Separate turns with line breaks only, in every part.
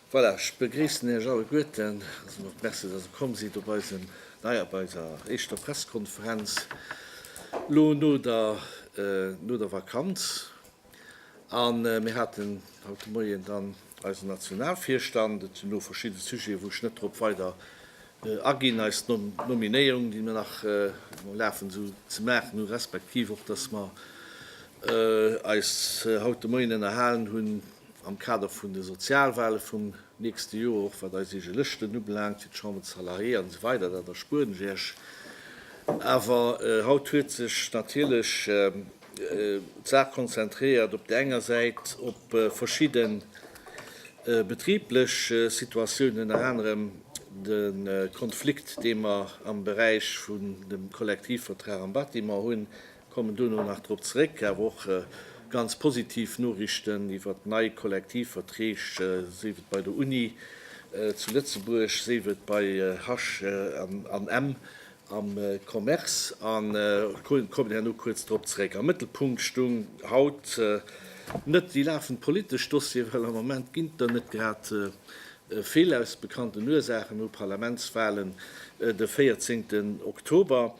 Voilà, ech begréissen Iech alleguerten. Also och merci, dass Der komm sidd op eisen, nei op eiser éischter Pressekonferenz elo no der, no der Vakanz. A mir haten haut de Moien dann eisen Nationalvirstand. Et sinn do verschidde Sujeten, wou ech net drop weider aginn. Eis Nominéierung, déi mir nach um Lafen sinn, ze maachen hu respektiv och, dass mer eis haut de Moien ënnerhalen hunn am Kader vun de Sozialwale vum nächste Joer, och wat eis eege Lëschten ubelaangt fir d'Chambre des Salariés an esou weider. Dat erspueren ech Iech. Awer haut huet sech natierlech D'Saach konzentréiert op der enger Säit op verschidde betriblech Situatiounen, ënner anerem de Konflikt, dee mer am Beräich vun dem Kollektivvertrag am Bâtiment hunn, kommen dono nach drop zeréck, awer och ganz positiv Noriichten iwwert nei Kollektivverträg, sief et bei der Uni zu Lëtzebuerg, sief et bei Hush an Emm, am Commerce an kommen herno kuerz drop zeréck. Am Mëttelpunkt stung haut net déi lafend politesch Dossieren, well am Moment ginn der net grad vill, aus bekannten Ursaachen, no Parlamentswahlen de 14 Oktober.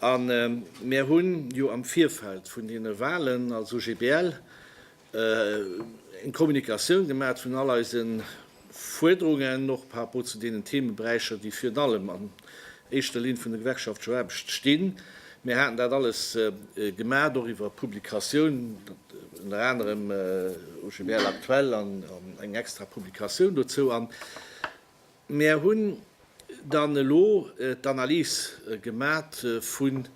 A mär hunn jo am Virfeld vun deene Wahlen als OGBL eng Kommunikatioun gemaat vun all eise Fuerderungen, och par rapport zu deenen Themeberäicher, déi virun allem an éischter Linn vun de Gewerkschaften zur Aarbecht stinn. Mir haten dat alles gemaat, och iwwer Publikatiounen, ënner anerem OGBL aktuell an eng extra Publikatioun dozou. A mir hunn dann elo d'Analys gemaat vun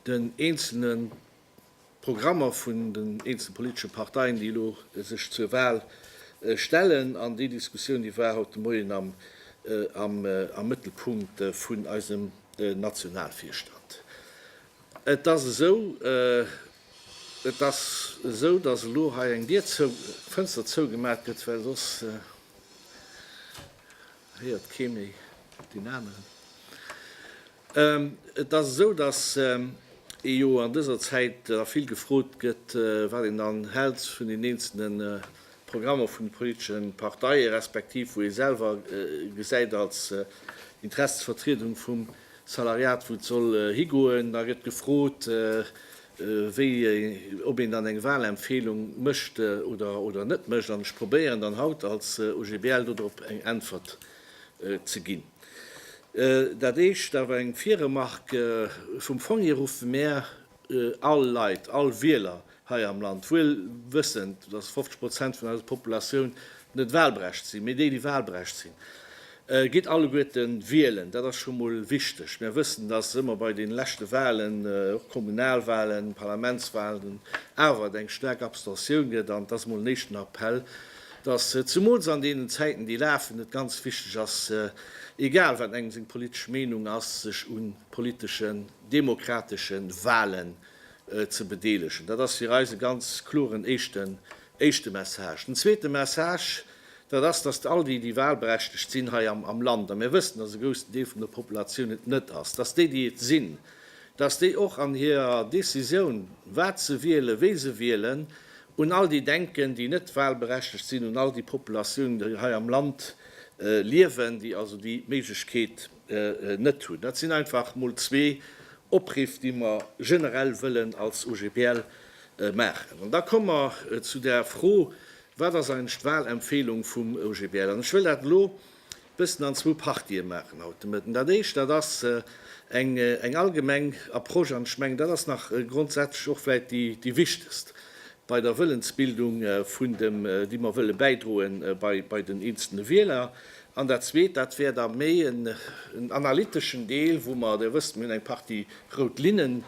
den eenzelne D'Programmer vun den eenzelne politesche Parteien, déi elo sech zur Wahl stellen, an déi Diskussioun, déi war haut de Moien am Mëttelpunkt vun eisem Nationalvirstand. Et ass esou, et ass esou, dass elo hei eng Dier zou, d'Fënster zougemaach gëtt, well soss héiert kee méi deen aneren. Et ass esou, datt ee jo an dëser Zäit da vill gefrot gëtt, wat een dann hält vun den eenzelne Programmer vun de politesche Parteie respektiv wou ee selwer gesäit als Interessensvertriedung vum Salariat, wou et soll higoen. Da gëtt gefrot, wéi, ob een dann eng Wahlempfehlung mécht oder net mécht. An ech probéieren dann haut als OGBL dodrop eng Äntwert ze ginn. Dat éischt awer eng Virremarque, Vum Fong hier ruffe mär all Leit, all Wieler hei am Land, wuel wëssend, dass 50 Prozent vun eiser Populatioun net wahlberecht sinn, mee déi, déi wahlberecht sinn, gitt alleguerte wielen. Dat ass scho mol wichteg. Mär wëssen, dass ëmmer bei deene leschte Wahlen, och Kommunalwahlen, Parlamentswahlen, awer et eng staark Abstention gëtt. An et ass emol en éischten Appell, dass zumools an deenen Zäiten, déi lafen, et ganz wichteg ass, egal wat engem seng politesch Meenung ass, sech un politeschen, demokratesche Wahlen ze bedeelegen. Dat ass fir eis e ganz kloren éischten, éischte Message. Den zweete Message, dat ass, dass all déi, déi wahlberechtegt sinn hei am, am Land, a mir wëssen, dass e groussen Deel vun der Populatioun et net ass, dass déi, déi et sinn, dass déi och an hirer Décisioun, wat se wielen, wéi se wielen, Un all déi denken, déi net wahlberechtegt sinn, un all déi Populatiounen, déi hei am Land liewen, déi also déi Méiglechkeet net hunn. Dat sinn einfach emol zwee Opriff, déi mer generell wëllen als OGBL maachen. An da komme mer zu der Fro, Wat ass eigentlech d'Wahlempfehlung vum OGBL? An ech wëll dat elo Bëssen an zwou Partië maachen haut de Mëtten. Dat Éischt, dat ass eng allgemeng Approche, an ech mengen, dat ass nach grondsätzlech och vläicht déi wichtegst bei der Wëllensbildung, déi mer wëlle bäidroe bei den eenzelne Wieler. An dat Zweet, dat wär da méi en analyteschen Deel, wou mer, Dir wësst, mir hunn eng Partie rout Linnen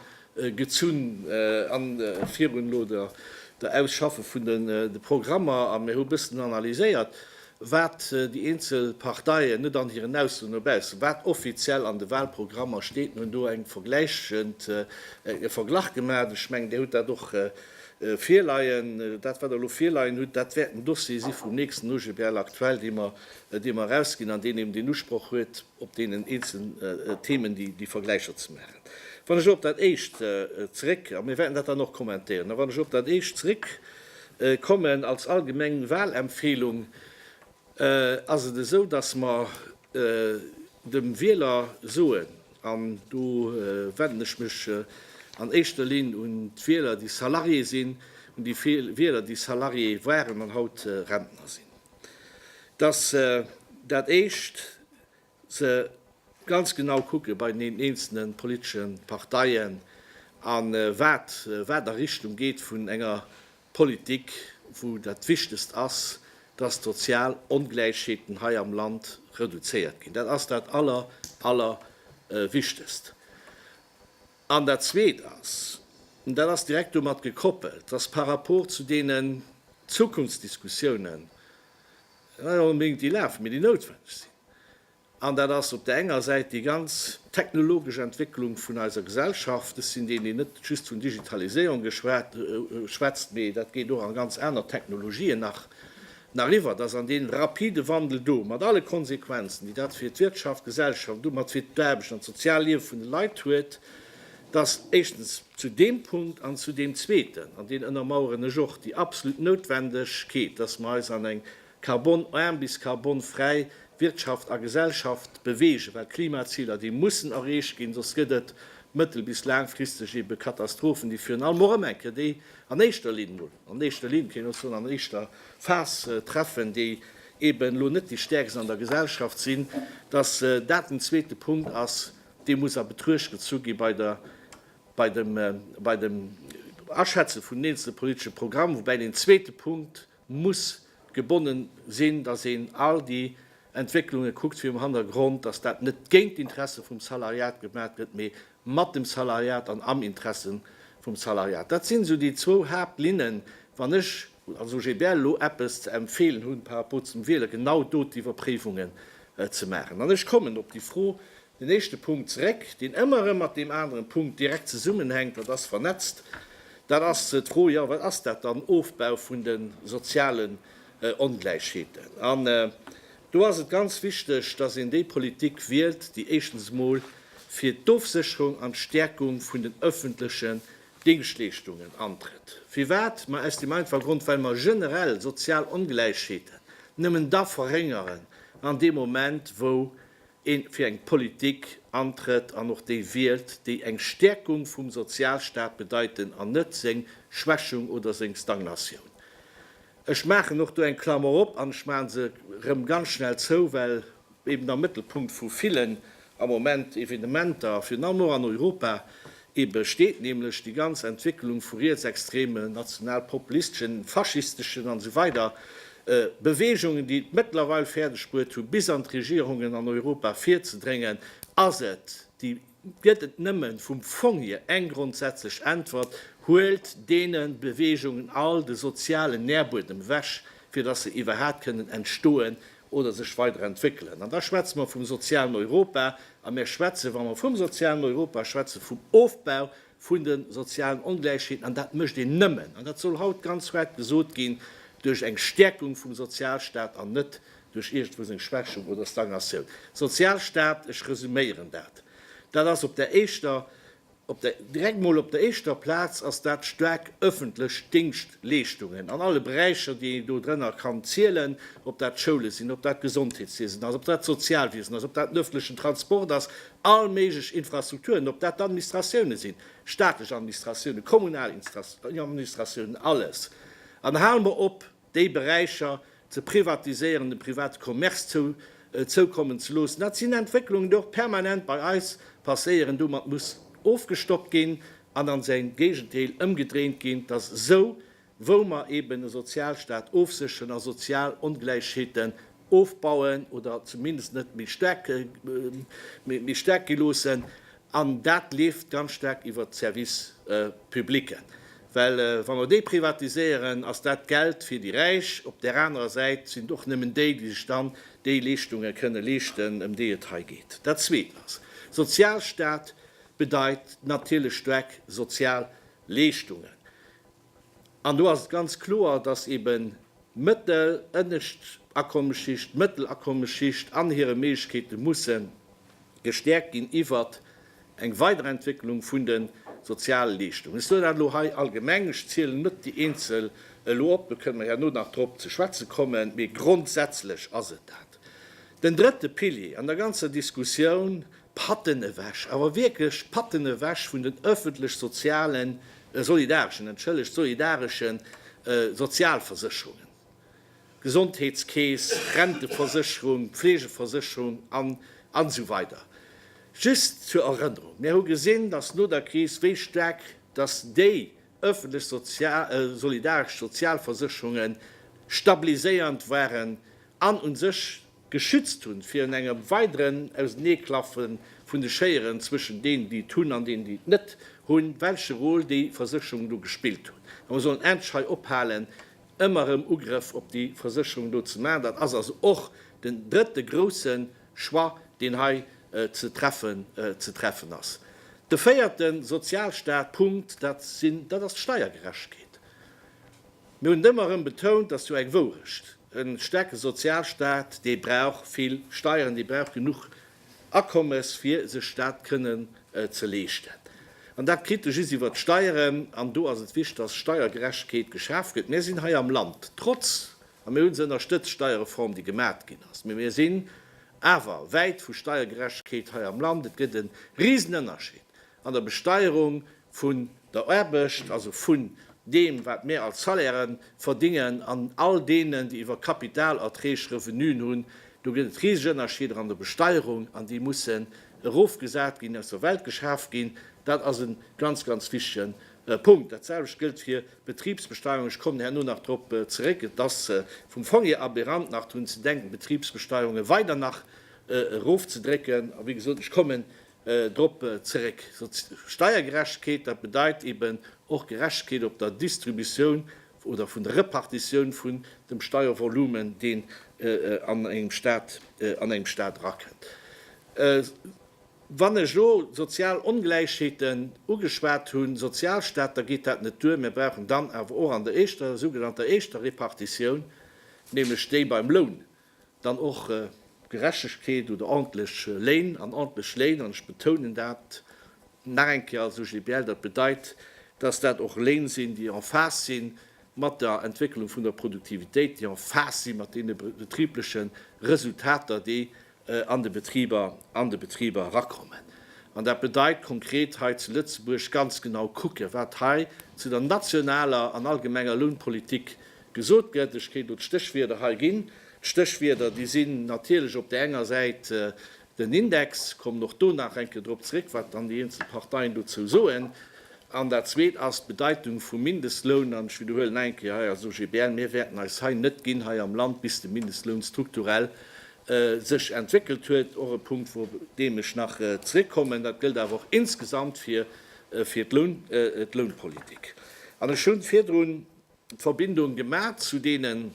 gezunn am virun elo der Ausschaffe vun de Programmer a mir hu bëssen analyséiert, wat déi eenzel Parteien, net an hiren Äusseren no baussen, wat offiziell an de Wahlprogrammer steet. Mir hunn do eng vergläichend, e Verglach gemaacht. Ech mengen, Dir hutt dat och virleien. Dat, wat Der elo virleien hutt, dat wäert en Dossier si vum nächsten OGBL aktuell, dee mer, dee mer erausginn an deen eben deen Usproch huet, op deenen eenzelnen Themen déi Vergläicher ze maachen. Wann ech elo op dat éischt zeréck, a mir wäerten dat dann och kommentéieren, a wann ech elo op dat éischt zeréckkommen, als allgemeng Wahlempfehlung, ass et esou, dass mer dem Wieler soen, an do wenden ech mech an éischter Linn un d'Wieler, déi Salarié sinn, un déi Wieler, déi Salarié waren an haut Rentner sinn, dass se dat éischt se ganz genau kucke bei den eenzelne politesche Parteien a wat wat a Richtung geet vun enger Politik, wou dat Wichtigst ass, dass d'sozial Ongläichheeten hei am Land reduzéiert ginn. Dat ass dat aller aller Wichtigst. An dat Zweet ass, an dat ass direkt domat gekoppelt, dass par rapport zu deenen Zukunftsdiskussiounen, net onbedéngt déi lafen, mee déi noutwenneg sinn, an dat ass op der enger Säit déi ganz technologesch Entwécklung vun eiser Gesellschaft, ech sinn deen, deen net just vun Digitaliséierung schwätzt, mee dat geet och a ganz aner Technologien nach, Nariwwer, dass an dee rapide Wandel do, mat alle Konsequenzen, déi dat fir d'Wirtschaft, d'Gesellschaft an domat fir d'Aarbecht an d'sozial Liewe vun de Leit huet, dass éischstens zu deem Punkt an zu deem Zweeten, an deen ënnermaueren ech och déi absolut Noutwendegkeet, dass mer eis an eng carbon-arm bis carbon-fräi Wirtschaft a Gesellschaft bewegen, well d'Klimaziler, déi mussen erreecht ginn, soss gëtt et mëttel bis laangfristeg ebe Katastrophen, déi virun allem och ëm eng Kéier, déi an éischter Linn mol. an éischter Linn, kéint een och soen, an éischter Phas treffen, déi eben elo net déi Stäerkst an der Gesellschaft sinn, dass dat den zweete Punkt ass, dee muss a Betruecht gezu gi bei der, bei dem, bei dem Aschätze vun den eenzelne politesche Programm, woubäi deen zweete Punkt muss gebonnen sinn, dass een all déi Entwécklunge kuckt virum Hannergrond, dass dat net géint d'Interesse vum Salariat gemat gëtt, mee mat dem Salariat an am Interesse vum Salariat. Dat sinn esou déi zwou Haaptlinnen, wann ech als OGBL elo eppes ze empfeelen hunn par rapport zum Wieler, genau do d'Iwwerpréiwungen ze maachen. An ech kommen op déi Fro, den éischte Punkt zeréck, deen ëmmer erëm mat deem aneren Punkt direkt zesummenhänkt, dat ass vernetzt, dat ass d'Fro, jo, wat ass dat dann, Ofbau vun de sozialen Ongläichheeten? An Do ass et ganz wichteg, dass een déi Politik wielt, déi éischtens emol fir d'Ofsécherung an d'Stäerkung vun den öffentlechen Dingschtleeschtungen antrëtt. Firwat? Ma aus deem einfache Grond, well mer generell sozial Ongläichheeten nëmmen da verréngeren an deem Moment, wou ee fir eng Politik antrëtt an och déi wielt, déi eng Stäerkung vum Sozialstaat bedeiten an net seng Schwächung oder seng Stagnatioun. Ech maachen och do eng Klammer op an ech maache se erëm ganz schnell zou, well eben am Mëttelpunkt vu villen am Moment Evenementer, virun allem och an Europa, ebe steet nämlech déi ganz Entwécklung vu rietsextremen, nationalpopulisteschen, faschisteschen an esou weider Beweegungen, déi et mëttlerweil fäerdegbruet hu bis an d'Regierungen an Europa virzedréngen, ass et déi. Gëtt et nëmmen vum Fong hier eng grondsätzlech Äntwert, huelt deenen Beweegungen all de sozialen Nährbuedem ewech, fir dass se iwwerhaat kënnen entstoen oder sech weider entwéckelen. An da schwätze mer vum sozialen Europa. A mer schwätzen, wa mer vum sozialen Europa schwätzen, vum Ofbau vun de sozialen Ongläichheeten. An dat mécht een nëmmen, an dat soll haut ganz räit gesot ginn, duerch eng Stärkung vum Sozialstaat an net Duerch iergendwou seng Schwächung oder Stagnatioun. Sozialstaat, ech resuméieren dat, dat ass op der éischter, op der, direkt mol op der éischter Plaz ass dat staark öffentlech Dingschtleeschtungen an alle Beräicher, déi een do drënner kann zielen, ob dat d'Schoule sinn, ob dat d'Gesondheetswiesen ass, ob dat d'Sozialwiesen ass, ob dat den öffentlechen Transport ass, all méiglech Infrastrukturen, ob dat d'Administratiounen sinn, staatlech Administratiounen, kommunal Administratiounen, alles. An hale mer op, déi Beräicher ze privatiséieren, dem private Commerce zoukommen ze loossen. Dat sinn Entwécklungen, déi och permanent bei eis passéieren. Domat muss ofgestockt ginn an a säin Géigendeel ëmgedréint ginn, dass esou wou mer eben e Sozialstaat ofsécheren a sozial Ongläichheete ofbauen oder zumindest net méi staark gi loossen. An dat leeft ganz staark iwwert d'Service publicen, well wa mer déi privatiséieren, ass dat Geld fir déi Räich. Op där anerer Säit sinn et och nëmmen déi, déi sech dann déi Leeschtunge kënne leeschten, ëm déi et hei geet. Dat Zweet ass, Sozialstaat bedeit natierlech staark sozial Leeschtungen. An do ass et ganz kloer, dass eben d'mëttel-, ënnescht Akommesschicht, d'mëttel Akommesschicht an hire Méiglechkeete musse gestäerkt ginn iwwert eng Weiderentwécklung vun de Sozialleeschtungen. Ech soen dat elo hei allgemeng, ech zielen net déi eenzel elo op, do kënne mer herno nach drop ze schwätze kommen, mee grondsätzlech ass et dat. Den drëtte Pilier an der ganzer Diskussioun Patten ewech, awer wierklech Patten ewech vun den öffentlech sozialen, solidareschen, entschëllegt, solidareschen Sozialversécherungen, Gesondheetskeess, Renteversécherung, Pflegeversécherung an esou weider. Just zur Erënnerung, Mir hu gesinn, dass no der Kris, wéi staark dass déi öffentlech solidaresch Sozialversécherunge stabiliséiernd waren an u sech, geschützt hunn virun engem weideren Auseneeklaffe vun de Schéieren zwëschen deenen, déi et hunn, an deenen, déi et net hunn, welche Rôle déi Versécherungen do gespillt hunn. A mer sollen endlech hei ophalen, ëmmer erëm Ugrëff op déi Versécherungen do ze maachen. Dat ass also och den drëtte grouse Choix, deen hei ze treffen, ze treffen ass. De véierte Sozialstaat-Punkt, dat sinn, dat ass d'Steiergerechtkeet. Mir hunn et ëmmer erëm betount, dat ass jo eng Wourecht, e staarke Sozialstaat, dee brauch vill Steieren, dee brauch genuch Akommes, fir sech dat kënnen ze leeschten. An dat kritt e just iwwert d'Steieren. An do ass et wichtig, dass Steiergerechtegkeet geschaf gëtt. Mir sinn hei am Land trotz, a mir hu se ënnerstëtzt, d'Steierreform, déi gemat ginn ass, mä mir sinn awer wäit vu Steiergerechtegkeet hei am Land. Et gëtt e Risenënnerscheed An der Besteierung vun der Aarbecht, also vun deem wat mir als Salaire verdingen an all deenen déi iwwer Kapitalerträg Revenuen hunn, do gëtt et riseg Ënnerscheeder an der Besteierung an déi mussen erofgesat ginn, aus der Welt geschaaft ginn. Dat ass e ganz, ganz wichtige Punkt. Dat selwecht gëllt fir d'Betribsbesteuerung, ech kommen herno nach drop zeréck. Et ass vum Fong hier aberant nach drun ze denken d'Betribsbesteuerung weider nach erofzedrécken a wéi gesot, ech kommen drop zeréck. Steiergerechtegkeet, dat bedeit eben och Gerechtegkeet op der Distributioun oder vun der Repartitioun vun dem Steiervolumen, deen an engem Stat, an engem Stat erakënnt. Wann ech elo sozial Ongläichheeten ugeschwat hunn, Sozialstat, da geet dat net duer. Mir brauchen dann awer och an der éischter, sougenannter éischter Repartitioun, nämlech déi beim Loun, Dann och Gerechtegkeet oder ordentlech Léin an ordentlech Léin, an ech betounen dat nach eng Kéier als OGBL, dat bedeit, dass dat och Léin sinn, déi en phase sinn mat der Entwécklung vun der Produktivitéit, déi en phase sinn mat deene betribleche Resultater, déi an de Betriber, an de Betriber erakommen. An dat bedeit konkret hei zu Lëtzebuerg ganz genau kucken, wat hei zu der nationaler an allgemenger Lounpolitik Gesot gëtt. Ech kéint elo d'Stéchwierder hei ginn. D'Stéchwierder, déi sinn natierlech op där enger Säit den Index, kommen och do nach enke drop zrëck, wat dann déi eenzel Parteien dozou soen, an dat Zweet ass d'Bedeitung vum Mindestloun. An ech widderhuelen nach eng Kéier hei als OGBL, mir wäerten eis hei net ginn hei am Land, bis de Mindestloun strukturell sech entwéckelt huet, och e Punkt, wou op deem ech nach zrëckkommen. Dat gëllt awer och insgesamt fir d'Lounpolitik. An ech hunn virdrun. Verbindung gemaat zu deenen,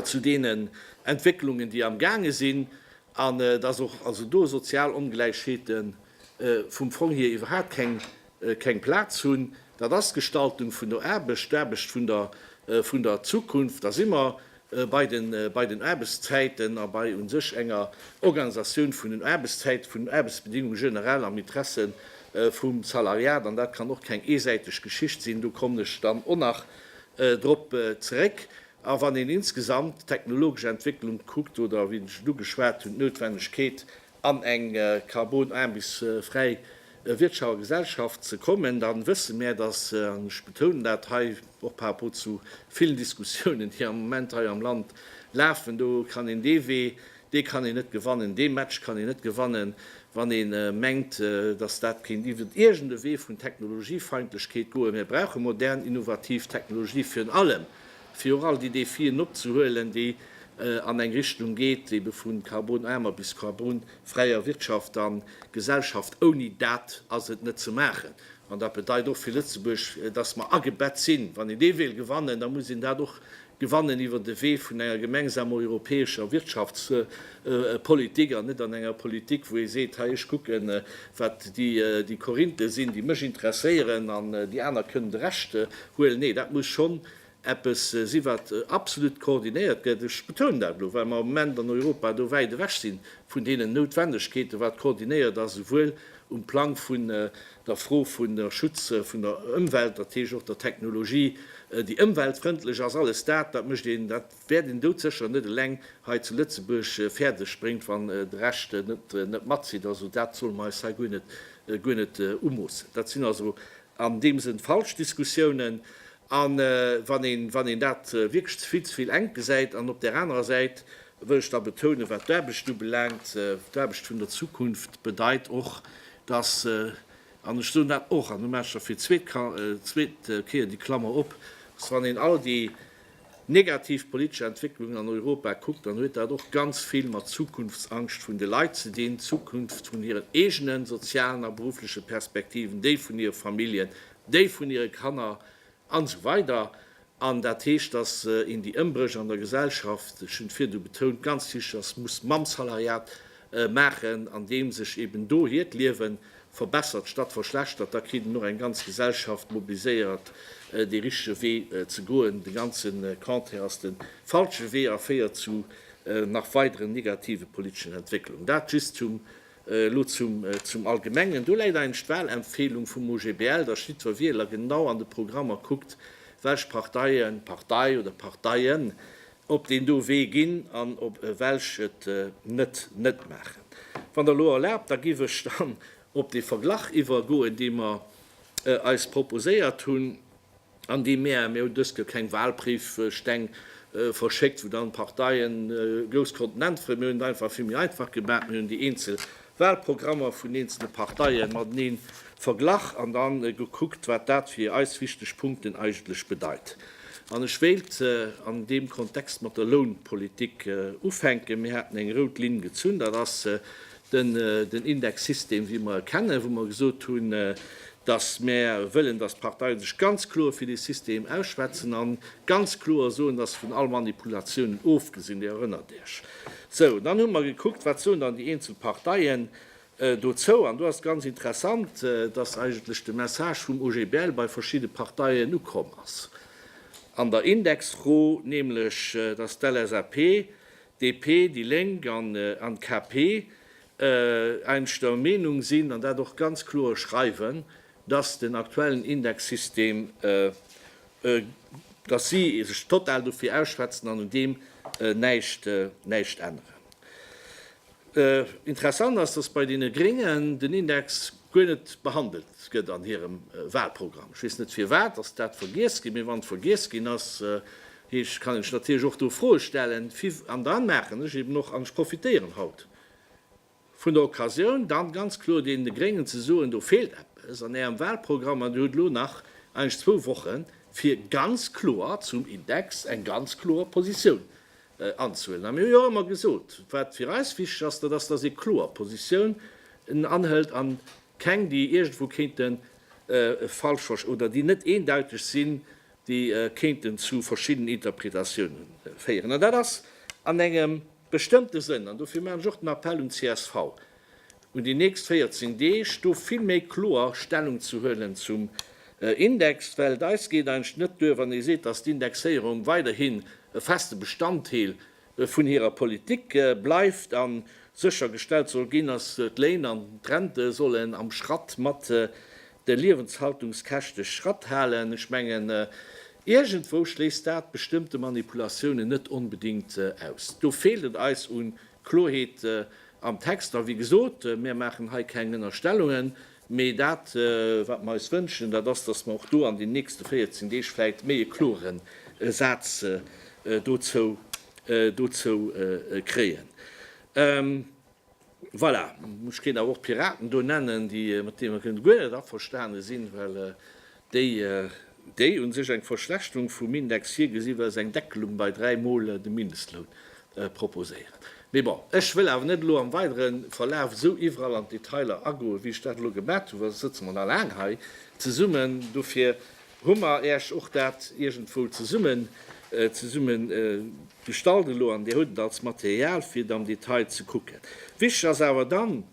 zu deenen Entwécklungen, déi am gaange sinn, an dass och also do sozial Ongläichheete vum Fong hier iwwerhaat keng, keng Plaatz hunn. Dat ass d'Gestaltung vun der Aarbecht, d'Aarbecht vun der, vun der Zukunft. Da si mer bei den Aarbechtszäiten a bei u sech enger Organisatioun vun den Aarbechtszäiten, vun den Aarbechtsbedingunge generell am Interesse vum Salariat. An dat kann och keng eesäiteg Geschicht sinn, do kommen ech dann och nach drop zeréck. A wann een insgesamt d'technologesch Entwécklung kuckt oder, wéi ech et ugeschwat hunn, d'Noutwennegkeet an eng karbonaarmes fräi Wirtschaft a Gesellschaft ze kommen, da wësse mär, dass, an ech betounen dat hei och par rapport zu villen Diskussiounen, déi am Moment hei am Land lafen, do kann een dee Wee, dee kann een net gewannen, dee Match kann een net gewannen, wann ee mengt, dass dat kéint iwwert iergend e Wee vun Technologiefeindlechkeet goen. Mir brauche modern, innovativ Technologie virun allem fir och all déi Défien opzehuelen, déi an eng Richtung geet, déi ebe vu karbonaarmer bis karbonfräier Wirtschaft a Gesellschaft. Ouni dat ass et net ze maachen. An dat bedeit och fir Lëtzebuerg, dass mer agebett sinn. Wann een dee wéilt gewannen, da muss een dat och gewannen iwwer de Wee vun enger gemengsamer europäescher Wirtschaftspolitik an net an enger Politik, wou ee seet, hei ech kucken, wat déi Korinthe sinn, déi mech interesséieren, an déi aner kënnen de Rescht huelen. Nee, dat muss schonn eppes si wat absolut koordinéiert gëtt, ech betounen dat elo, well mer am Moment an Europa do wäit ewech si vun deenen Noutwendegkeeten, wat koordinéiert ass, esouwuel um Plang vun der Fro vun der Schutz vun der Ëmwelt, dat heescht och der Technologie, déi ëmweltfrëndlech ass. Alles dat, dat mécht een, dat wäert een doudsécher net eleng hei zu Lëtzebuerg fäerdeg bréngt, wann de Rescht net matzitt. Also dat solle mer eis hei guer net umoossen. Dat sinn also an deem Sënn falsch Diskussiounen. A wann een, wann een dat wierklech vill ze vill enk gesäit, an op där anerer Säit wëll ech da betounen, wat d'Aarbecht ubelaangt, d'Aarbecht vun der Zukunft bedeit och, dass, an ech soen dat och, an elo maache ech da fir d'zweet Kéier déi Klammer op, dass wann een all déi negativ politesch Entwécklungen an Europa kuckt, dann huet dat och ganz vill mat Zukunftsangscht vun de Leit ze dinn, d'Zukunft vun hiren eegenen sozialen a beruffleche Perspektiven, déi vun hire Familljen, déi vun hire Kanner an esou weider An dat heescht, dass een déi Ëmbréch an der Gesellschaft, ech hunn et virdu betount, ganz tiesch ass, muss Mammsalariat maachen, an deem sech eben do hiert Liewe verbessert statt verschlechtert. Da kritt een och eng ganz Gesellschaft mobiliséiert, dee richtege Wee ze goen. De ganze Contraire ass de falsche Wee a féiert zu nach weideren negative politeschen Entwécklungen. Dat just zum Elo zum Allgemengen. Do läit eigentlech d'Wahlempfehlung vum OGBL, datt jiddwer Wieler genau an de Programmer kuckt, welch Parteie, Partei oder Parteien op deen do Wee ginn an op welch et net net maachen. Wann Der elo erlaabt, da giff ech dann op dee Verglach iwwergoen, dee mer eis proposéiert hunn. an déi mär, mär hu dëst Joer keng Wahlbriefsteng verschéckt, wou dann d'Parteien grouss konnten äntweren. Mär hunn et einfach vill méi einfach gemaach, mär hunn déi eenzel Wahlprogrammer vun eenzelne Parteien mateneen verglach an dann gekuckt, wat dat fir eis wichteg Punkten eigentlech bedeit. An ech wéilt an deem Kontext mat der Lounpolitik ufänken. Mär haten eng rout Linn gezunn, dat ass Den Indexsystem, wéi mer e kennen, wou mer gesot hunn, dass mer wëllen, dass d'Parteie sech ganz kloer fir dee System ausschwätzen a ganz kloer soen, dass se vun all Manipulatioun ofgesinn. Dir erënnert Iech. Sou, dann hu mer gekuckt, wat soen dann déi eenzel Parteien dozou. An do ass et ganz interessant, dass eigentlech de Message vum OGBL bei verschidde Parteien ukomm ass an der Indexfro, nämlech dass d'LSAP DP, déi Lénk an d'KP eins der Meenung sinn an dat och ganz kloer schreiwen, dass den aktuellen Indexsystem, dass si sech total dofir ausschwätzen an un deem näischt änneren. Interessant ass, dass bei deene Gréngen den Index guer net behandelt gëtt an hirem Wahlprogramm. Ech weess net firwat. Ass dat vergiess ginn? Mee wann et vergiess ginn ass, Heescht, kann ech natierlech och do Froe stellen, fi, an dann maachen ech eben och, an ech profitéieren haut vun der Occasioun, dann ganz kloer deene Gréngen ze soen, do feelt eppes an Ärem Wahlprogramm an Dir hutt elo nach eigentlech zwou Wochen, fir ganz kloer zum Index eng ganz kloer Positioun anzuhuelen. A mir hu jo och ëmmer gesot, wat fir eis wichteg ass, dat ass, dass ee kloer Positiounen anhëlt a keng, déi iergendwou kéinte falsch verst, oder déi net eendeutig sinn, déi kéinten zu verschiddenen Interpretatiounen féieren, an dat ass an engem bestëmmte Sënn, an dofir maachen ech och den Appell un csv, un déi nächst 14 Deeg do vill méi kloer Stellung ze huelen zum Index, well et eis geet eigentlech net duer, wann ee seet, dass d'Indexéierung weiderhin e feste Bestanddeel vun hirer Politik bleift a sécher gestellt soll ginn, datt d'Léin an d'Rente sollen am Schratt mat de Liewenshaltungskäschte Schratt halen. Ech mengen, iergendwou schléisst dat bestëmmte Manipulatiounen net onbedéngt aus. Do feelt et eis u Klorheet am Text. A wéi gesot, mir maachen hei keng Ënnerstellungen. Mee dat, wat mer eis wënschen, dat ass, dass mer och do an den nächste 14 Deeg vläicht méi e klore Saz dozou kréien. Voilà, ech kéint awer och d'Piraten do nennen, déi mat deem ech guer net averstane sinn, well Déi, déi u sech eng Verschlechterung vum Index virgesi well se eng Deckelung bei dräi Mol de Mindestloun proposéiert. Mee bon, ech wëll awer net elo am weidere Verlaf esou iwwerall an d'Detailer agoen, wéi ech dat elo gemat hunn, well soss sëtze mer nach laang hei zesummen. Dofir hu mer Iech och dat iergendwou zesummen, zesummen gestallt elo an Dir hutt et als Material, fir et am Detail ze kucken. Wichteg ass awer dann,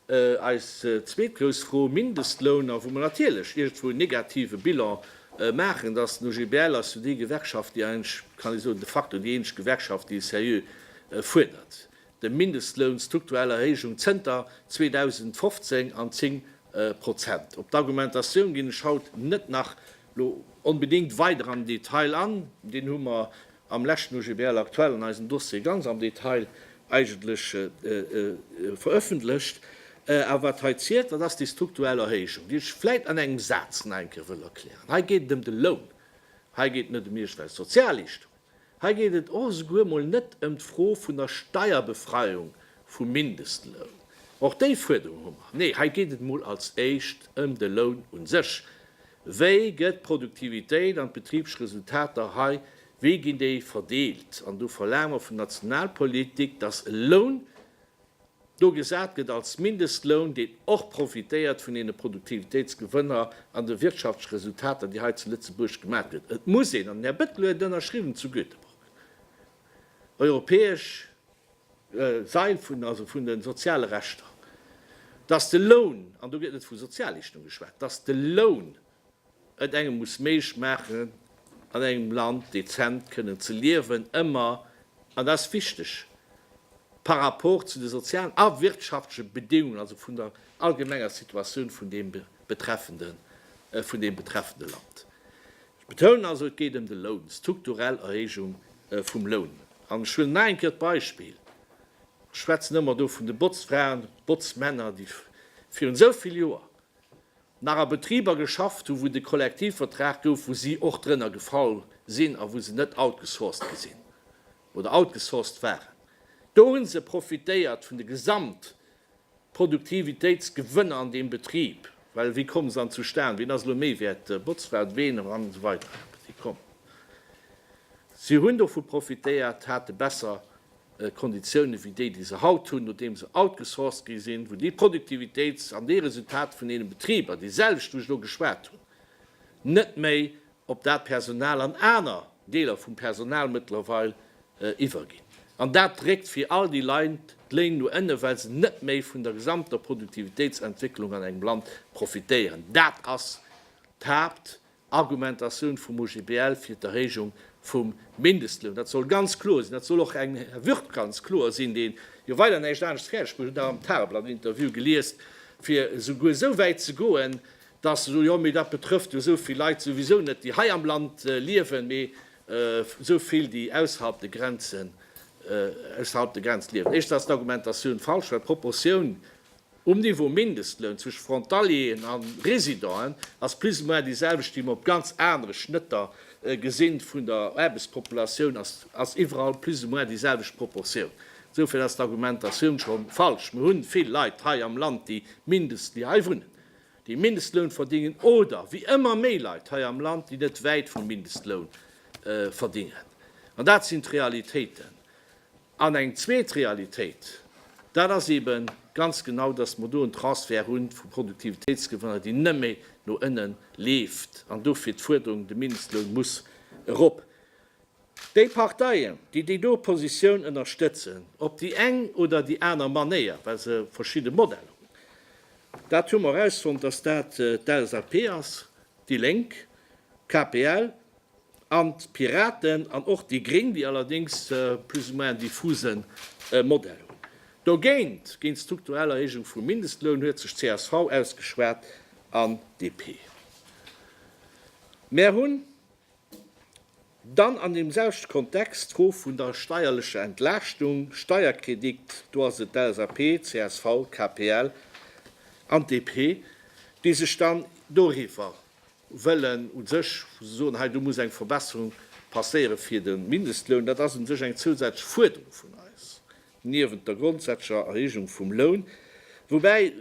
Eis zweet grouss Fro, Mindestloun, a wou mer natierlech iergendwou en negative Bilan maachen, dass den OGBL ass jo déi Gewerkschaft, déi eigentlech, kann ee soen, de facto déi eenzeg Gewerkschaft, déi e seriö fuerdert, de Mindestloun strukturell Erhéijung zënter 2015 an 10 Prozent. Op d'Argumentatioun ginn ech haut net nach Lo onbedéngt weider am Detail an, deen hu mer am leschten OGBL aktuell an eisem Dossier ganz am Detail eigentlech veröffentlecht. Awer wat hei zielt, dat ass déi strukturell Erhéijung, déi ech vläit an engem Saz nach eng Kéier wëll erklären. Hei geet et ëm de Loun, hei geet et net ëm iergendwelch Sozialleeschtungen. Hei geet et och esouguer mol net ëm d'Fro vun der Steierbefreiung vum Mindestloun, och déi Fuerderung hu mer, nee, hei geet et mol als éischt ëm de Loun u sech. Wéi gëtt d'Produktivitéit an d'Betribsresultater hei, wéi ginn déi verdeelt? An do verlaange mer vun Nationalpolitik, dass e Loun do gesat gëtt als Mindestloun, deen och profitéiert vun deene Produktivitéitsgewënner an de wirtschaftleche Resultater, déi hei zu Lëtzebuerg gemaach gëtt. Et muss een, an den Här Bettel huet et ënnerschriwwen, zu Göteborg europäesch Sail vun, also vun de soziale Rechter, dass de Loun, an do gëtt net vu Sozialleeschtung geschwat, dass de Loun et engem muss méiglech maachen, an engem Land dezent kënnen ze liewen, ëmmer, an dat ass wichteg, par rapport zu de sozialen a wirtschaftleche Bedingungen, also vun der allgemenger Situatioun vun deem betreffenden, vun deem betreffende Land. Ech betounen also, et geet ëm de Loun, d'strukturell Erhéijung vum Loun. An ech huelen nach eng Kéier d'Beispill, ech schwätzen ëmmer do vun de Botzfraen, Botzmänner, déi virun esou vill Joer nach a Betriber geschafft hu wou de Kollektivvertrag gouf, wou si och drënner gefall sinn a wou se net outgesourced gi sinn oder outgesourced waren, do hu se profitéiert vun de Gesamtproduktivitéitsgewënner an deem Betrib, well wéi komme se dann zustan, ween ass elo méi wäert, d'Botzfra, ween an esou weider, si kommen, si hunn dovu profitéiert, hate besser Konditiounen wéi déi, déi se haut hunn, nodeem se outgesourced gi sinn, wou déi Produktivitéits an déi Resultater vun deene Betriber, déi selwecht, wou ech elo geschwat hunn, net méi op dat Personal an aner Deeler vum Personal mëttlerweil iwwerginn. An dat dréckt fir all déi Leit d'Léin no ënne, well se net méi vun der gesamter Produktivitéitsentwécklung an engem Land profitéieren. Dat ass d'Haapt, Argumentatioun vum OGBL fir d'Erhéijung vum Mindestloun, dat soll ganz kloer sinn, dat soll och engem Här Würth ganz kloer sinn, deen jo weider näischt anescht fäerdeg bruet, ech hunn dat am Tageblatt-Interview geliest, fir souguer esou wäit ze goen, dass se soen, jo, mee dat betrëfft jo esou vill Leit souwisou net, déi hei am Land liewen, mee esou vill, déi ausserhalb de Grenzen, ausserhalb der Grenz liewen. Éischtens ass d'Argumentatioun falsch, well d'Proportioun Um Niveau Mindestloun zwëscht Frontalieren a Residenten ass plus ou moins déi selwecht, déi mer op ganz anere Schnëtter gesinn vun der Aarbechtspopulatioun, ass ass iwwerall plus ou moins déi selwecht Proportioun. Insofern ass d'Argumentatioun scho falsch. Mer hunn vill Leit hei am Land, déi mindest, déi hei wunnen, déi Mindestloun verdingen, oder wéi ëmmer méi Leit hei am Land, déi net wäit vum Mindestloun verdingen. An dat sinn d'Realitéiten. An eng zweet Realitéit, dat ass eebe ganz genau, datt mer do en Transfert hu vu Produktivitéitsgewënner, deen nëmme no ënne leeft an dofir d'Fuerderung, de Mindestloun muss erop. Déi Parteien, déi déi do Positioun ënnerstëtzen, op déi eng oder déi aner Manéier, well se verschidde Modeller hunn, dat hu mer erausfonnt, datt dat d'LSAP ass, déi Lénk, KPL, an d'Piraten an och déi Gréng, déi allerdéngs e plus ou moins en diffusen Modell hunn. Dogéint, géint d'strukturell Erhéijung vum Mindestloun, huet sech csv ausgeschwat an DP. Mär hunn dann an deem selwechte Kontext d'Fro vun der steierlecher Entlaaschtung, Steierkredit, do ass et d'LSAP, csv, KPL an d'DP, déi sech dann doriwwer wëllen u sech, wou se soen, hei do muss eng Verbesserung passéiere fir de Mindestloun. Dat ass u sech eng zousätzlech Fuerderung vun eis, niewent der grondsätzlecher Erhéijung vum Loun, woubäi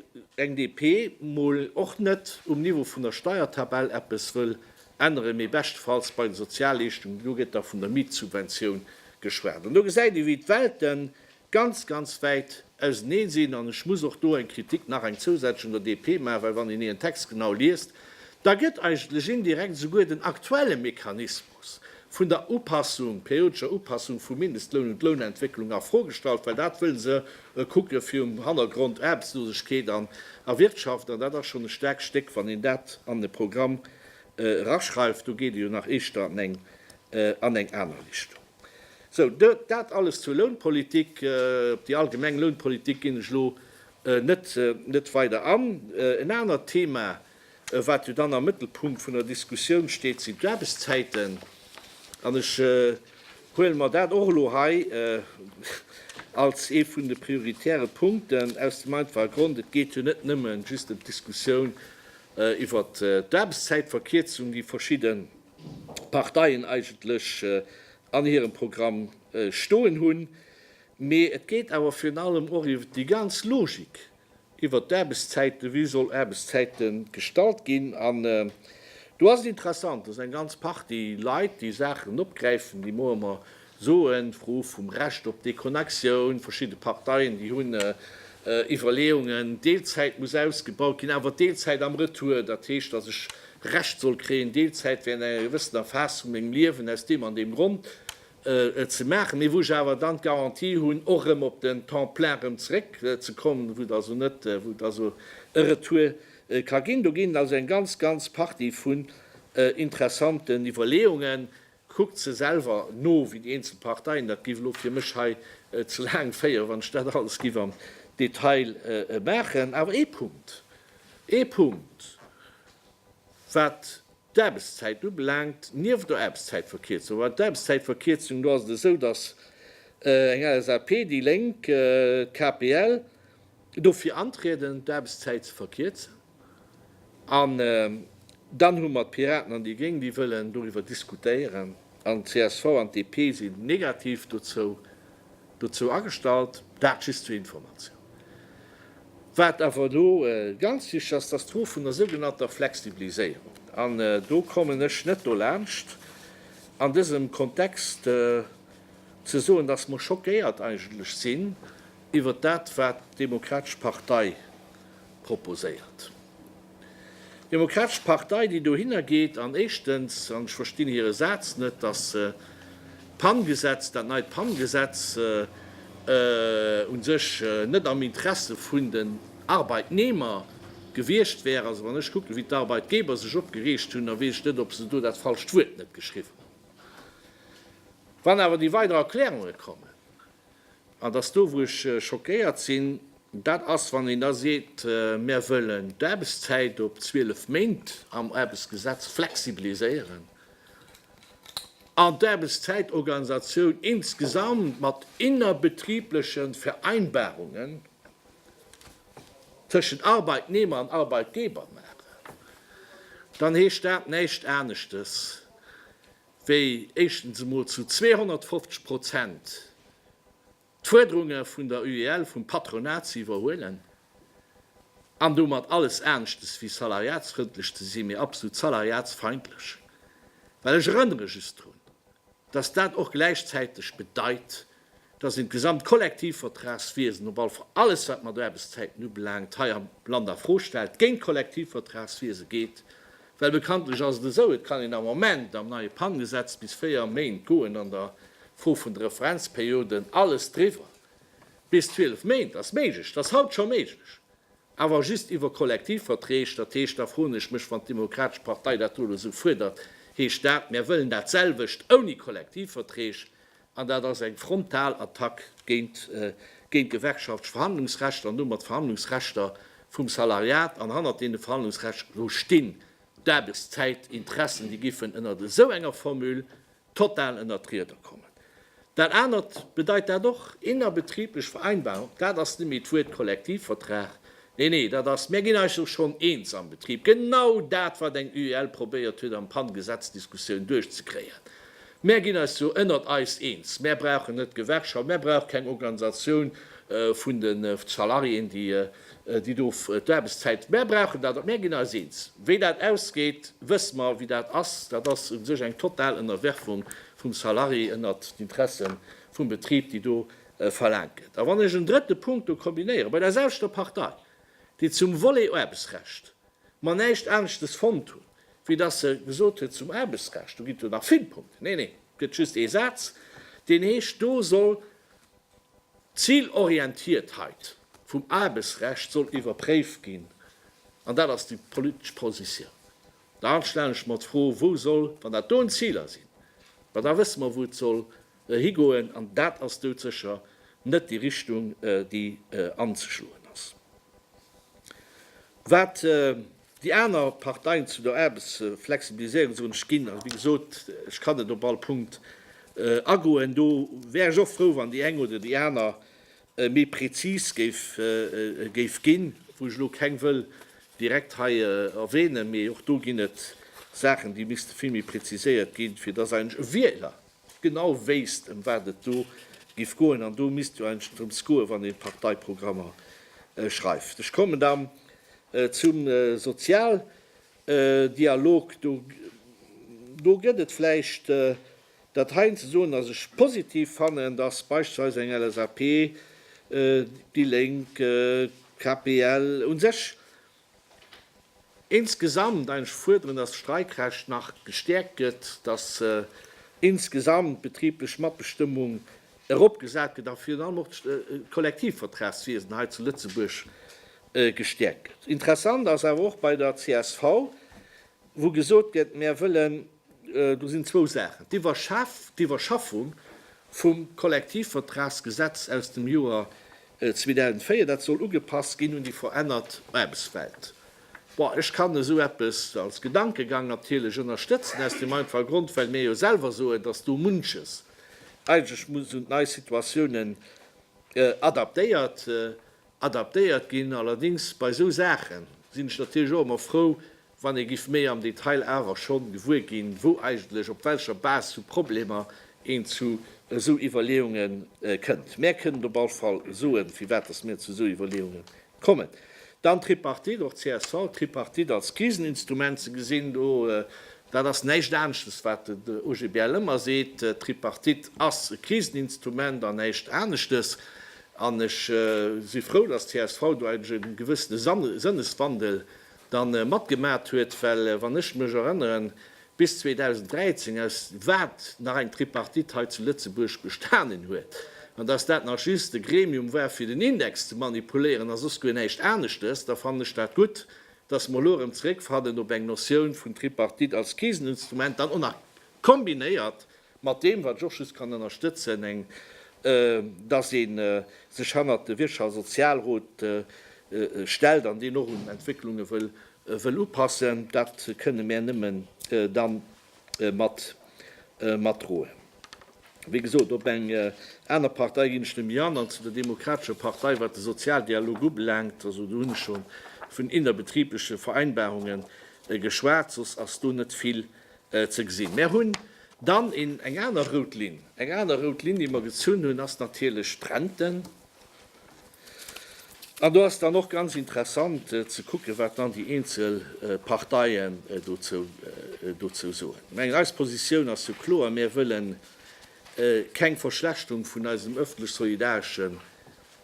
eng DP mol och net um Niveau vun der Steiertabell eppes wëll änneren, mee beschtefalls bei de Sozialleeschtungen. Do gëtt da vun der Mietsubventioun geschwat. An do gesäit ee wéi d'Welten ganz, ganz wäit auseneen sinn. An ech muss och do eng Kritik, nach eng zousätzlech, un der DP maachen, well wann een een Text genau liest, da gëtt eigentlech indirekt esouguer den aktuelle Mechanismus vun der Upassung, periodescher Upassung vum Mindestloun un d'Lounentwécklung a Fro gestallt, well dat wëlle se kucke fir um Hannergrond Aarbechtslosegkeet an a Wirtschaft. An dat ass schonn e staarkt Stéck, wann een dat an e Programm eraschreift. Do geet ee jo nach eeschter an eng aner Richtung. Sou, dat alles zur Lounpolitik. Op déi allgemeng Lounpolitik ginn ech elo net weider an. En anert Thema, wat jo dann am Mëttelpunkt vun der Diskussioun steet, sinn d'Aarbechtszäiten. An ech huele mer dat och elo hei als ee vun de prioritäre Punkten, aus dem einfache Grond, Et geet jo net nëmme just ëm d'Diskussioun iwwert d'Aarbechtszäitverkierzung, déi verschidde Parteien eigentlech an hirem Programm stoen hunn. Mee et geet awer virun allem och iwwert déi ganz Logik iwwert d'Aarbechtszäiten, wéi soll Aarbechtszäite gestalt ginn. An do ass et interessant, datt eng ganz Partie Leit déi Saachen opgräifen, déi moie mer Soen, d'Fro vum Recht op Deconnexion, verschidde Parteien, déi hunn Iwwerleeungen, Deelzäit muss ausgebaut ginn, awer Deelzäit am Retour, dat heescht, datt ech Recht soll kréien, Deelzäit wärend enger gewëssener Phas vu mengem Liewen aus deem an deem Grond ze maachen, mee wou ech awer dann d'Garantie hunn, och erëm op den Temps plein erëm zeréck ze kommen, wou et also net, wou et also e Retour ka ginn. Do ginn et also eng ganz, ganz Partie vun interessanten Iwwerleeungen, Kuckt se selwer no, wéi déi eenzel Parteien. Dat géif elo fir mech hei ze laang féieren, wann ech dat alles géif am Detail maachen. Awer ee Punkt, ee Punkt, wat d'Aarbechtszäit ubelaangt, nieft der Aarbechtszäitverkierzung, well d'Aarbechtszäitverkierzung, do ass et esou, datt eng LSAP, déi Lénk, d'KPL dofir antrieden, d'Aarbechtszäit ze verkierzen. An dann hu mer d'Piraten an déi Gréng, déi wëllen doriwwer diskutéieren. An csv an d'DP sinn negativ dozou dozou agestallt. Dat just zur Informatioun. Wat awer elo ganz wichteg ass, dass d'Fro vun der sougenannter Flexibiliséierung, an do kommen ech net dolaanscht an dësem Kontext ze soen, dass mer schockéiert eigentlech sinn iwwert dat, wat d'Demokratesch Partei proposéiert. D'Demokratesch Partei, déi dohinner geet an éischtens, an ech verstinn hire Saz net, dass se d'PAN-Gesetz, dat neit PAN-Gesetz u sech net am Interesse vun den Arbeitnehmer gewiescht wär. Also wann ech kucken, wéi d'Arbeitgeber sech opgereegt hunn, da weess ech net, ob se do dat falscht Wuert net geschriwwen hunn. Wann awer déi weider Erklärunge kommen, An dass do wou ech schockéiert sinn, dat ass wann een da seet, mär wëllen d'Aarbechtszäit op 12 Méint am Aarbechtsgesetz flexibiliséieren an d'Aarbechtszäitorganisatioun insgesamt mat innerbetriebleche Vereinbarungen tëschent Arbeitnehmer an Arbeitgeber maachen, dann heescht dat näischt aneschtes, wéi éischtens emol zu 250 Prozent d'Fuerderunge vun der UEL, vum Patronat ze iwwerhuelen an domat alles aneschtes wéi salariatsfrëndlech ze sinn, mee absolut salariatsfeindlech, well ech erënnere just drun, dass dat och gläichzäiteg bedeit, Da sinn d'gesamt Kollektivvertragswiesen, op all Fall alles wat mat Aarbechtszäiten ubelaangt, hei am Land a Fro stellt, géint d'Kollektivvertragswiese geet, well bekanntlech ass et esou, et kann een am Moment am neie PAN-Gesetz bis véier Méint goen an der Fro vun de Referenzperioden, alles driwwer bis zwielef Méint ass méiglech, et ass haut scho méiglech, awer just iwwer Kollektivverträg. Dat heescht, da froen ech mech, wann d'Demokratesch Partei dat do elo esou fuerdert, heescht dat, mir wëllen dat selwecht ouni Kollektivverträg, An dat ass eng frontal Attack géint d'gewerkschaftlecht Verhandlungsrechter an domat d'Verhandlungsrechter vum Salariat. An hannert deene Verhandlungsrechter elo stinn d'Aarbechtszäitinteressen, déi giffen ënnert esou enger Formule total ënnert d'Rieder kommen. Dat anert bedeit dat och, innerbetriiblech Vereinbarung, dat ass net méi d'Wuert Kollektivvertrag. Nee, nee, dat ass, Mir ginn eis och schonn eens am Betrib. Genau dat, wat eng UEL probéiert huet am Pan-Gesetzdiskussioun duerchzekréien. Mär ginn eis do ënnert eis eens. Mär brauchen net d'Gewerkschaft, mär brauch keng Organisatioun vun de Salariéen, déi do d'Aarbechtszäit, mär brauchen dat net. Mär ginn eis eens. Wéi dat ausgeet, wësse mer. Wéi dat ass, dat ass u sech eng total Ënnerwerfung vum Salarié ënnert d'Interesse vum Betrib, déi do verlaangt gëtt. A wann ech en drëtte Punkt do kombinéieren, bei der selwechter Partei, déi zum Volet Aarbechtsrecht, mer näischt aneschtes fonnt hunn, wéi datt se gesot huet zum Aarbechtsrecht, do ginn et jo nach vill Punkten, nee, nee, et gëtt just ee Saz, deen heescht, do soll d'Zilorientiertheit vum Aarbechtsrecht soll iwwerpréift ginn, an dat ass déi politesch Positioun. Dann stellen ech mer d'Fro, wou soll, wann dat do en Ziler sinn, ma da wësse mer, wou et soll Higoen, an dat ass doudsécher net déi Richtung, déi anzeschloen ass. Wat déi aner Parteien zu der Aarbechtsflexibiliséierung soen, ech ginn, wéi gesot, ech kann net op all Punkt agoen, do wär ech och frou, wann déi eng oder déi aner méi prezis géif ginn, wou ech elo keng wëll direkt hei erwänen, mee och do ginn et Saachen, déi misste vill méi preziséiert ginn, fir dass eigentlech e Wieler genau wéisst em wat et do giff goen an do misst jo eigentlech drëms goen wann een Parteiprogrammer schreift. Ech kommen dann zum Sozialdialog, do do gëtt et vläicht dat heien ze soen, dass ech positiv fannen, dass beispillsweis eng LSAP, déi Lénk, KPL, u sech Insgesamt, ech fuerderen, dass d'Streikrecht nach gestäerkt gëtt, dass insgesamt d'betriblech Matbestëmmung eropgesat gëtt a virun allem och d'Kollektivvertragswiesen hei zu Lëtzebuerg gestäerkt gëtt. Interessant ass awer och bei der csv, wou gesot gëtt, Mär wëllen Do sinn zwou Saachen, d'Iwwerschaffung vum Kollektivvertragsgesetz aus dem Joer 2004, dat soll ugepasst ginn un déi verännert Aarbechtswelt. Bon, ech kann esou eppes als Gedankegang natierlech ënnerstëtzen, aus deem einfache Grond, well mir jo selwer soen, dass do munches eigentlech muss un d'nei Situatiounen adaptéiert ginn. Allerdéngs bei esou Saache sinn ech natierlech och ëmmer frou, wann ee giff méi am Detail awer schonn gewuer ginn, wou eigentlech, op welcher Base vu Problemer een zu esou Iwwerleeungen kënnt. Mär kënnen op all Fall soen, firwat dass mir zu esou Iwwerleeungen kommen. Dann d'Tripartite, och csv, d'Tripartite als Kriseninstrument ze gesinn, do, dat ass näischt aneschtes, wat den OGBL ëmmer seet, d'Tripartite ass e Kriseninstrument an näischt aneschtes. An ech si frou, dass csv do eigentlech e gewëssene Sënneswandel, da matgemat huet, well wann ech mech erënneren, bis 2013, aus wat nach eng Tripartite hei zu Lëtzebuerg bestanen huet, an dass dat nach just e Gremium war fir den Index ze manipuléieren a soss guer näischt aneschtes, da fannen ech dat gutt, dass mer elo erëm zeréckfannen op eng Notioun vun Tripartite als Kriseninstrument, dann och nach kombinéiert Mat deem, wat ech och just kann ënnerstëtzen, eng, dass ee sech hannert de Wirtschafts a Sozialrot stellt an deen och un Entwécklunge wëll upassen, dat kënne mär nëmme da mat matdroen. Wéi gesot, op eng aner Partei ginn ech net méi an. An zu der Demokratescher Partei, wat de Sozialdialog ubelaangt, also do hunn ech scho vun innerbetribleche Vereinbarunge geschwat, soss ass do net vill Ze gesinn. Mär hunn dann een, eng aner rout Linn. Eng aner rout Linn, déi mer gezunn hunn, ass natierlech d'Rente. An do ass dann och ganz interessant ze kucken, wat dann déi eenzel Parteien dozou, dozou soen. Ech mengen, eis Positioun ass jo kloer, Mär wëlle keng Verschlechterung vun eisem öffentlech-solidareschen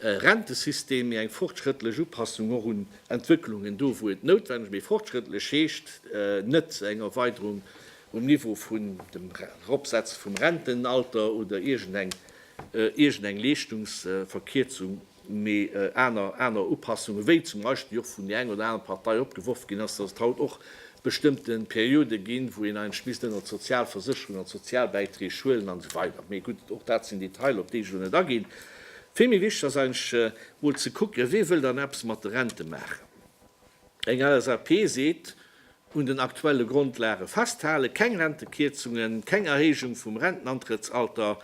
Rentesystem, mee eng fortschrëttlech Upassung och un Entwëcklungen do, wou et noutwenneg, mee fortschrëttlech heescht net eng Erweiderung um Niveau vun dem Eropsetze vum Rentenalter oder iergendeng Leeschtungsverkierzung, mee aner Upassungen, wéi zum Beispill och vun där enger oder anerer Partei opgeworf ginn ass, dass et haut och bestëmmte Periode ginn, wou een eigentlech misst ënnert d'Sozialversécherung an d'Sozialbäiträg schuelen an esou weider. Mee gutt, och dat sinn Detailer, op déi ech elo net aginn. Vill méi wichteg ass eigentlech emol ze kucken, wee wëll dann eppes mat de Rente maachen. Eng LSAP seet, un den aktuelle Grondlage festhalen, keng Rentekierzungen, keng Erhéijung vum Rentenantrëttsalter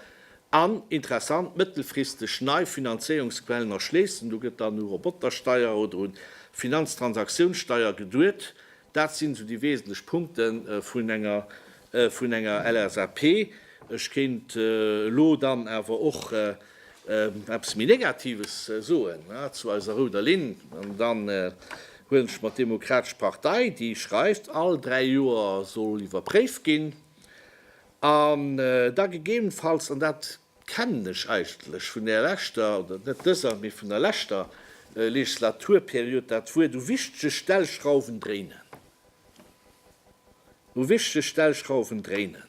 an, interessant, mëttelfristeg nei Finanzéierungsquellen erschléissen. Do gëtt dann u Robotersteier oder un d'Finanztransaktiounssteier geduet. Dat sinn esou déi wesentlech Punkte vun enger LSAP. Ech kéint elo dann awer och eppes méi Negatives soen zu eiser rouder Linn. An dann huelen ech mer d'Demokratesch Partei, déi schreift, all dräi Joer soll iwwerpréift ginn an da gegebenfalls, an dat kennen ech eigentlech vun där leschter, oder net dëser, mee vun der leschter Legislaturperiod dat Wuert u wichtege Stellschrauwen dréinen, u wichtege Stellschrauwen dréinen.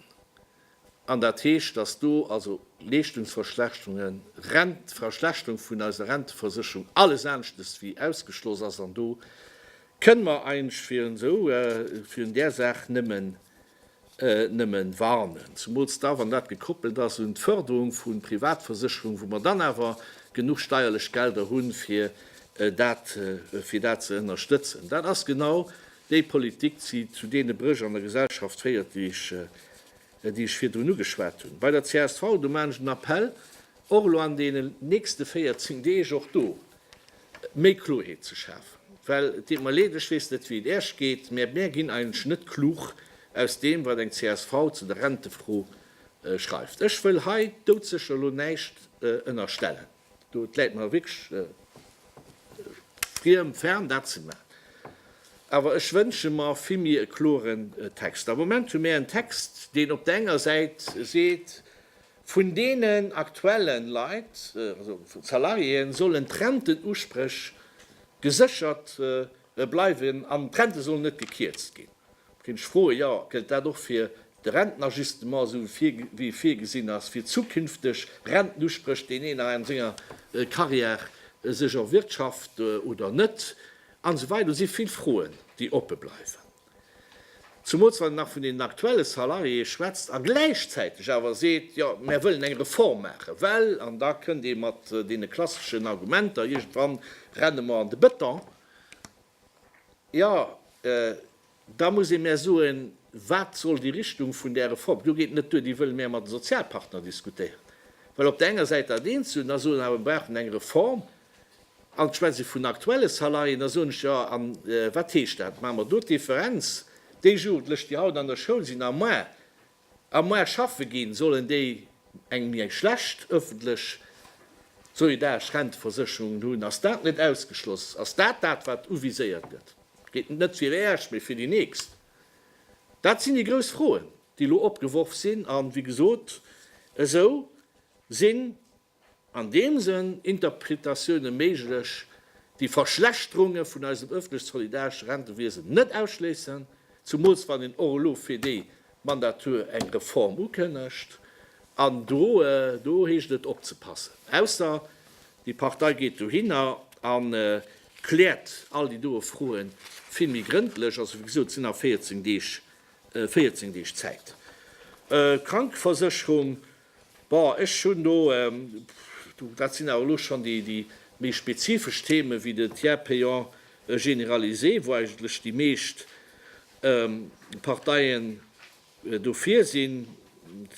An dat heescht, dass do also Leeschtungsverschlechterungen, Rent, Verschlechterung vun eiser Renteversicherung, alles aneschtes wéi ausgeschloss ass. An do kënne mer eigentlech virun esou, virun där Saach nëmmen nëmmen warnen, zumools da wann dat gekoppelt ass un d'Förderung vun Privatversicherung, wou mer dann awer genuch steierlech Gelder hunn fir dat fir dat ze ënnerstëtzen. Dat ass genau déi Politik déi zu deene Bréch an der Gesellschaft féiert déi ech déi ech virdrun ugeschwat hunn. Bei der csv do maan ech en Appel och elo an deenen nächste 14 Deeg och do méi Kloheet ze schafen, well et deet mer leed, ech weess net wéi et Äech geet, mä mär ginn eigentlech net klug aus deem wat eng csv zu der Rentefro schreift. Ech wëll hei doudsécher elo näischt ënnerstellen, do et läit mer wierklech friem, fern dat ze maachen, awer ech wënsche mer vill méi e kloren Text. Am Moment hu mär en Text, deen op der enger Säit seet, Vun deenen aktuelle Leit, also Salariéen, sollen d'Rentenusprech geséchert bleiwen an d'Rente soll net gekierzt ginn. Da kéint ech froen, jo, gëllt dat och fir de Rentenajustement, esou wéi e virgesinn ass fir zukünfteg Rentenusprëch, deen een a senger Carrière sech erwirtschaft oder net, an esou weider. Do si vill Froen, déi oppe bleiwen. Zumools wann een nach vun den aktuelle Salariéë schwätzt a gläichzäiteg awer seet, jo mär wëllen eng Reform maachen, well, an da kënnt ee mat deene klasseschen Argumenter, iergendwann renne mer an de Bëton, jo da muss ee mär soen, wat soll déi Richtung vun där Reform, do geet et net duer, déi wëlle mär mat de Sozialpartner diskutéieren, well op der enger Säit dat eent soen, da soen awer, mär brauchen eng Reform, An schwätz ech vun aktuelle Salaien, da soen ech, jo, a wat heescht dat? Maache mer do d'Differenz? Déi Jugendlech, déi haut an der Schoul sinn a moar, a moar schaffe ginn, sollen déi eng méi schlecht öffentlech solidaresch Renteversécherung hunn? Ass dat net ausgeschloss? Ass dat dat, wat uviséiert gëtt? Geet net fir déi Eischt, mee fir déi Nächst? Dat sinn déi grouss Froen, déi elo opgeworf sinn. A wéi gesot, esou sinn An deem Sënn Interpretatioune méiglech, déi Verschlechterunge vun eisem ëffentlech-solidaresche Rentewiesen net ausschléissen, zumools wann een och elo fir déi Mandature eng Reform ukënnegt. An do, do heescht et opzepassen. Ausser déi Partei geet dohinner a kläert all déi doe Froe vill méi grëndlech. Also wéi gesot, et sinn nach 14 Deeg, 14 Deeg Zäit. Krankeversécherung, Bon, ech hunn do, dat sinn awer elo schonn déi méi spezifesch Themen, wéi de Tiers payant généralisé, wou eigentlech déi meescht Parteien dofir sinn,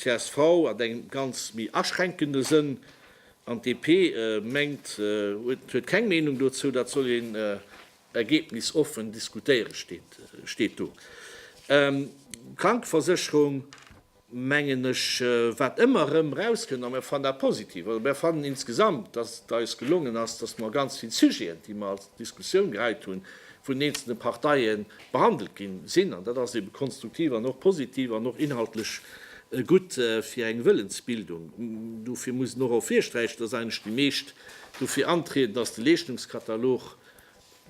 csv an engem ganz méi aschränkende Sënn, an DP mengt, huet keng Meenung dozou, dat soll een ergebnisoffen diskutéieren, steet do. Krankeversécherung, mengen ech, wat ëmmer erëm erauskënnt, a mir fannen dat positiv, also mir fannen insgesamt, datt et eis gelongen ass, datt mer ganz vill Sujeten, déi mer als Diskussioun geheit hunn, vun den eenzelne Parteie behandelt gi sinn. An dat ass ebe konstruktiv an och positiv an och inhaltlech gutt fir eng Wëllensbildung. Dofir muss een och erofvirsträichen, datt eigentlech déi meescht dofir antrieden, datt de Leeschtungskatalog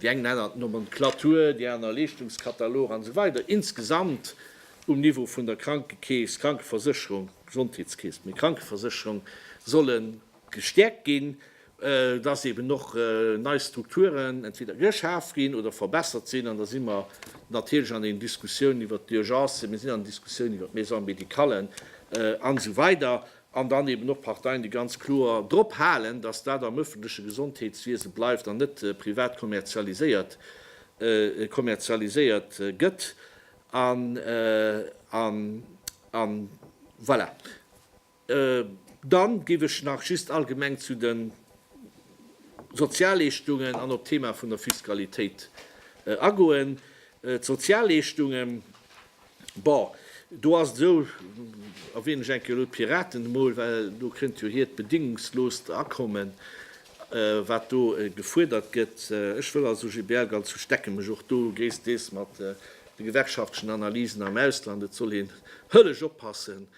Déi eng nennen dat Nomenclature, déi aner Leeschtungskatalog an esou weider Insgesamt um Niveau vun der Krankekeess, Krankeversécherung, Gesondheetskeess, mee Krankeversécherung solle gestäerkt ginn, dass eben och nei Strukturen entweder geschaf ginn oder verbessert sinn. An da si mer natierlech an den Diskussiounen iwwert d'Urgencen, mir sinn an den Diskussiounen iwwert d'Maisons médicalen an esou weider. an dann eben och Parteien, déi ganz kloer drop halen, dass dat am öffentleche Gesondheetswiese bleift an net privat kommerzialiséiert gëtt. An voilà. Dann géif ech nach just allgemeng zu de Sozialleeschtungen an op d'Thema vun der Fiskalitéit agoen. D'Sozialleeschtungen, Bon, do ass et esou, erwänen ech eng Kéier elo d'Piraten emol, well do kënnt jo hiert bedéngungsloost Akommen, wat do gefuerdert gëtt. Ech wëll also GBL ganz u stecke mech och do gréissteels mat de gewerkschaftlechen Analysen am Ausland. Et soll een hëllech oppassen,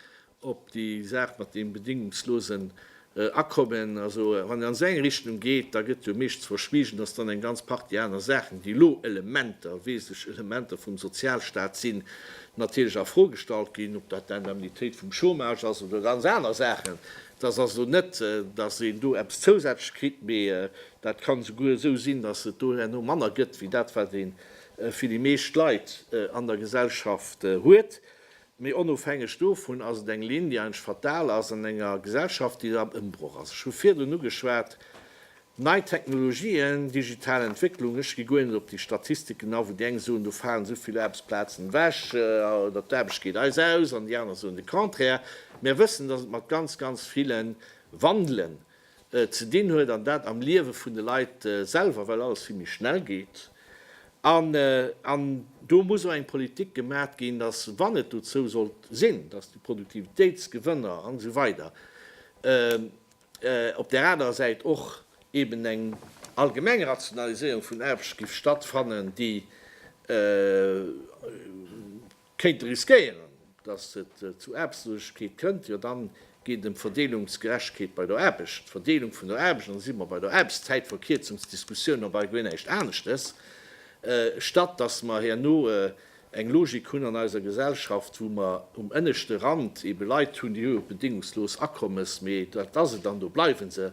op déi Saach mat deem bedéngungslosen Akommen, also wann een an esou eng Richtung geet, da gëtt jo meeschtens verschwiegen, datt dann eng ganz Partie aner Saachen, déi elo Elementer, wesentlech Elementer vum Sozialstaat sinn, natierlech a Fro gestallt ginn, ob dat d'Indemnitéit vum Chômage ass oder ganz aner Saachen. Et ass also net, datt een do eppes zousätzlech kritt, mee dat kann souguer esou sinn, datt et do herno manner gëtt wéi dat, wat ee fir déi meescht Leit an der Gesellschaft huet. Mee onofhängeg dovun ass et eng Linn, déi eigentlech fatal ass an enger Gesellschaft, déi am Ëmbroch ass. Ech hu virdrun ugeschwat, nei Technologien, digital Entwécklungen. Ech gi guer net op déi Statistiken a, wou déi eng soen, do falen esou vill Aarbechtsplazen ewech oder d'Aarbecht geet eis aus an déi aner soen de Contraire. Mir wëssen, dass et mat ganz, ganz ville Wandelen ze dinn huet an dat am Liewe vun de Leit selwer, well alles vill méi schnell geet. An do muss och eng Politik gemat ginn, dass, wann et dozou sollt sinn, dass déi Produktivitéitsgewënner an esou weider op där anerer Säit och eben eng allgemeng Rationaliséierung vun Aarbecht géif stattfannen, déi Kéint riskéieren, datt et zu Aarbechtslosigkeet kënnt, jo dann geet et em Verdeelungsgerechtegkeet bei der Aarbecht, d'Verdeelung vun der Aarbecht, an da si mer bei der Aarbechtszäitverkierzungsdiskussioun op all Geleeënhecht aneschtes, statt datt mer herno eng Logik hunn an eiser Gesellschaft, wou mer um ënneschte Rand ebe Leit hunn, déi hu jo bedingungslos Akommes, mee dat ass et an do bleiwe se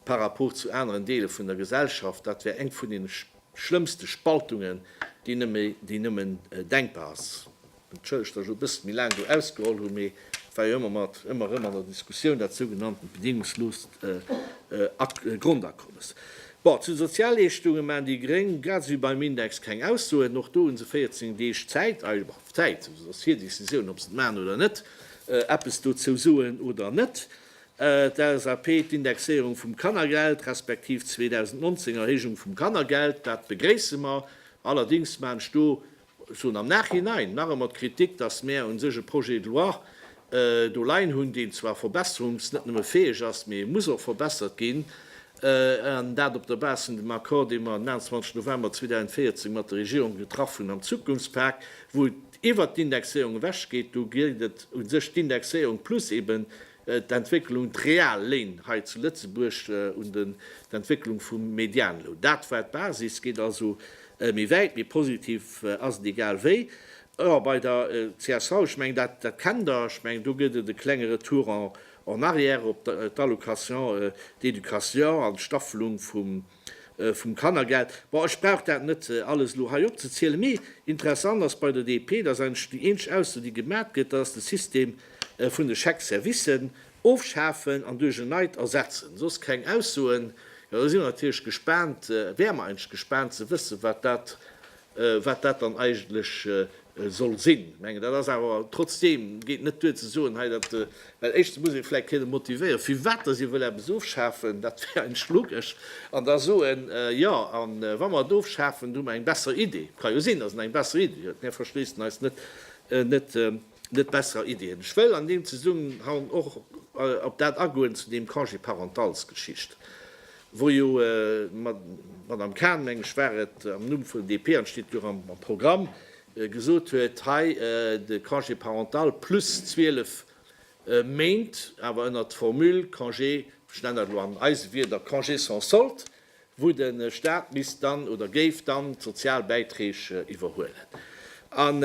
par rapport zu aneren Deele vun der Gesellschaft. Dat wär eng vun deene. Schlëmmste Spaltungen, déi nëmme, déi nëmmen denkbar ass. Entschëllegt, datt ech elo e bëssen méi laang do ausgeholl hunn, mee et war jo ëmmer mat, ëmmer erëm an der Diskussioun, dat sougenanntent bedingungsloost Grondakommes. Bon, zu de Sozialleeschtunge maachen déi Gréng, grad esou wéi beim Index, keng Aussoen. Och do hu se 14 Deeg Zäit, eis Zäit, et ass hir Decisioun, ob se et maachen oder net, eppes dozou soen oder net. D'LSAP, d'Indexéierung vum Kannergeld, respektiv 2019 Erhéijung vum Kannergeld, dat begréisse mer. Allerdings man ech do, ech soen am Nachhinein, nach emmer d'Kritik, dass mär un sech e Projet de loi do leien hunn, deen zwar verbesserungs-, net nëmme fäeg ass, mee e muss och verbessert ginn. an dat op der Base vun dem Accord, dee mer den 21 November 2014 mat der Regierung getraff hunn am Zukunftspak, wou et iwwert d'Indexéierung ewech geet. Do geet et u sech d'Indexéierung plus eben d'Entwécklung, d'real Léin hei zu Lëtzebuerg un den d'Entwécklung vum Medianloun. Dat war d'Basis, geet also méi wäit, méi positiv ass et egal wéi. Jo, bei der csv, ech mengen, dat kennt Der, ech mengen, do gëtt et e klenge Retour en En arrière op d'Allocation d'éducation an d'Staffelung vum Kannergeld. Bon, ech brauch dat net alles elo hei opzezielen, mee interessant ass bei der DP, dass eigentlech déi eenzeg Ausso, déi gemat gëtt, dass de System vun de Chèques-servicen ofschafen an duerch en neit ersetzen. Soss keng Aussoen. Jo, da si mer natierlech gespaant, wäer mer eigentlech gespaant ze wëssen, wat dat wat dat dann eigentlech soll sinn. Ech mengen, dat ass awer trotzdeem, geet net duer ze soen hei, dat, well éischtens muss ee vläicht kënnen motivéieren, firwat dass ee wëll eppes ofschafen, dat wär eng Schlugg-esch, an da soen, jo, a wa mer et ofschafen, hu mer eng besser Idee. Ka jo sinn, dass en eng besser Idee huet, mär verschléissen eis net net besserer Iddien. Ech wëll an deem Zesummenhang och op dat agoen zu deem Congé-parentals-Geschicht, wou jo d'Madame Cahn, meng ech war et, am Numm vun DP, an et steet jo och am Programm, gesot huet, hei de Congé parental plus 12 Méint, awer ënnert Formule Congé, ech nennen dat elo an eise Wieder Congé sans solde, wou de Staat misst dann oder géif dann d'sozial Bäiträg iwwerhuelen. An,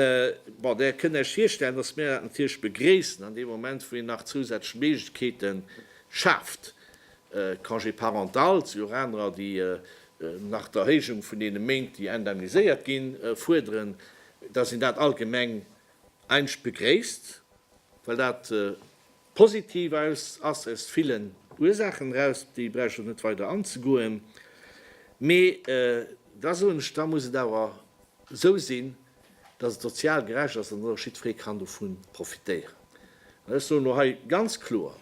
bon, Der kënnt Iech virstellen, dass mir dat natierlech begréissen an deem Moment, wou een nach zousätzlech Méiglechkeete schaaft, Congé parental, et si jo och anerer, déi nach d'Erhéijung vun deene Méint, déi indemniséiert ginn, fuerderen, dass een dat allgemeng eigentlech begréisst, well dat, Positiv aus ass äus villen Ursaachen eraus, op déi brauch ech och net weider anzegoen, mee da soen ech, da muss et awer esou sinn, dass et sozial gerecht ass an dass och jiddferee kann dovu profitéieren. An ech soen elo hei ganz kloer,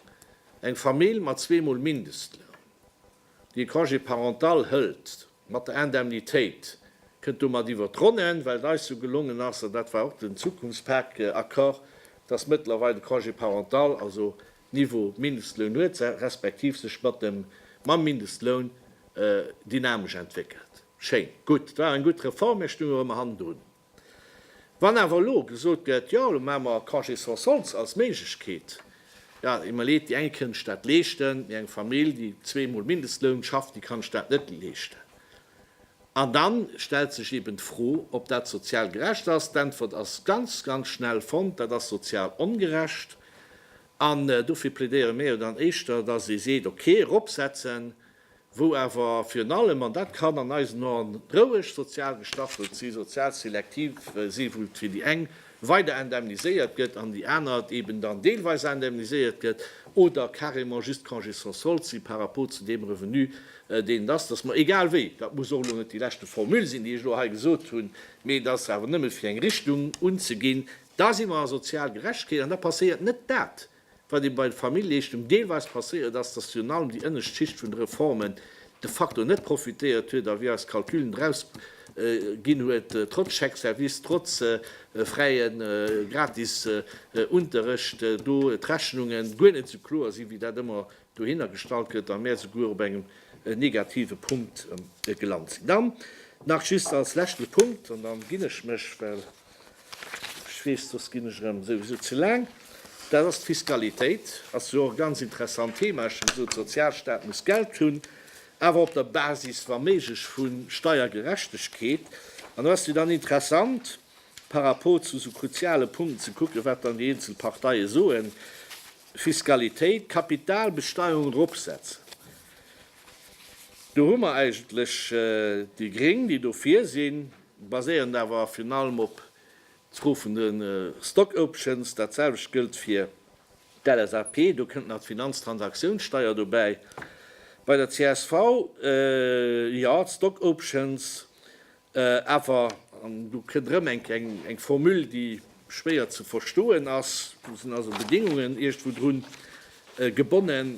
eng Famill mat zweemol Mindestloun, Dee Congé parental hëlt mat der Indemnitéit, kënnt domat iwwer d'Ronnen, well et eis jo gelongen ass, an dat war och den Zukunftspak-Accord, dass mëttlerweil de Congé parental, also Niveau Mindestloun huet, respektiv sech mat dem, mam Mindestloun dynamesch entwéckelt. Schéin, gutt. Et war eng gutt Reform, mä ech stoung och ëmmer hannendrun. Wann awer elo gesot gëtt, jo elo maache mer Congé sans soldes als Méiglechkeet, jo et iwwerleet, déi eng kënnen sech dat leeschten, mee eng Famill, déi zwee Mol Mindestloun schafft, déi kann sech dat net leeschten. An da stellt sech eben d'Fro, ob dat sozial gerecht ass. D'Äntwert ass ganz, ganz schnell fonnt, Dat ass sozial ongerecht. An dofir plädéiere mir jo dann éischter, dass ee seet, okay, eropsetzen, wou awer virun allem, an dat kann an eisen Ohren roueg sozial gestaffelt si, sozial selektiv si, wou et fir déi eng weider indemniséiert gëtt an déi aner eben dann deelweis indemniséiert gëtt oder carrément just Congé sans solde si par rapport zu deem Revenu, deen et ass, dass mer, egal wéi, dat muss och elo net déi leschte Formule sinn, déi ech elo hei gesot hunn, mee et ass awer nëmme fir eng Richtung unzeginn, da si mer a sozial Gerechtegkeet an da passéiert net dat, Wat ee bei de Familljeichtung deelweis passéiert ass, dass virun allem déi ënnescht Schicht vun de Reformen de facto net profitéiert huet a wéi eis Calculen draus ginn huet, trotz Chèque service, trotz fräie gratis Unterrecht, do d'Rechnunge guer net esou kloer sinn, wéi dat ëmmer dohinner gestallt gëtt a mär souguer op engem negative Punkt gelant sinn. Dann nach just als leschte Punkt, an da ginn ech mech, well. Ech weess, soss ginn ech erëm souwisou ze laang. Dat ass d'Fiskalitéit. Ass jo och e ganz interessant Thema. Ech hu gesot, de Sozialstaat muss Geld hunn, awer op der Basis, wa méiglech, vu Steiergerechtegkeet. An do ass jo dann interessant, par rapport zu esou kruziale Punkten ze kucken, wat dann déi eenzel Parteie soen, Fiskalitéit, Kapitalbesteierung eropsetzen. Do hu mer eigentlech déi Gréng, déi dofir sinn, baséierend awer virun allem op d'Fro vun de Stock Options. Dat selwecht gëllt fir d'LSAP, do kënnt nach d'Finanztransaktiounssteier dobäi. Bei der csv, jo, d'Stock Options, awer, an do kënnt erëm eng Formule, déi schwéier ze verstoen ass, do sinn also Bedingungen iergendwou drun gebonnen,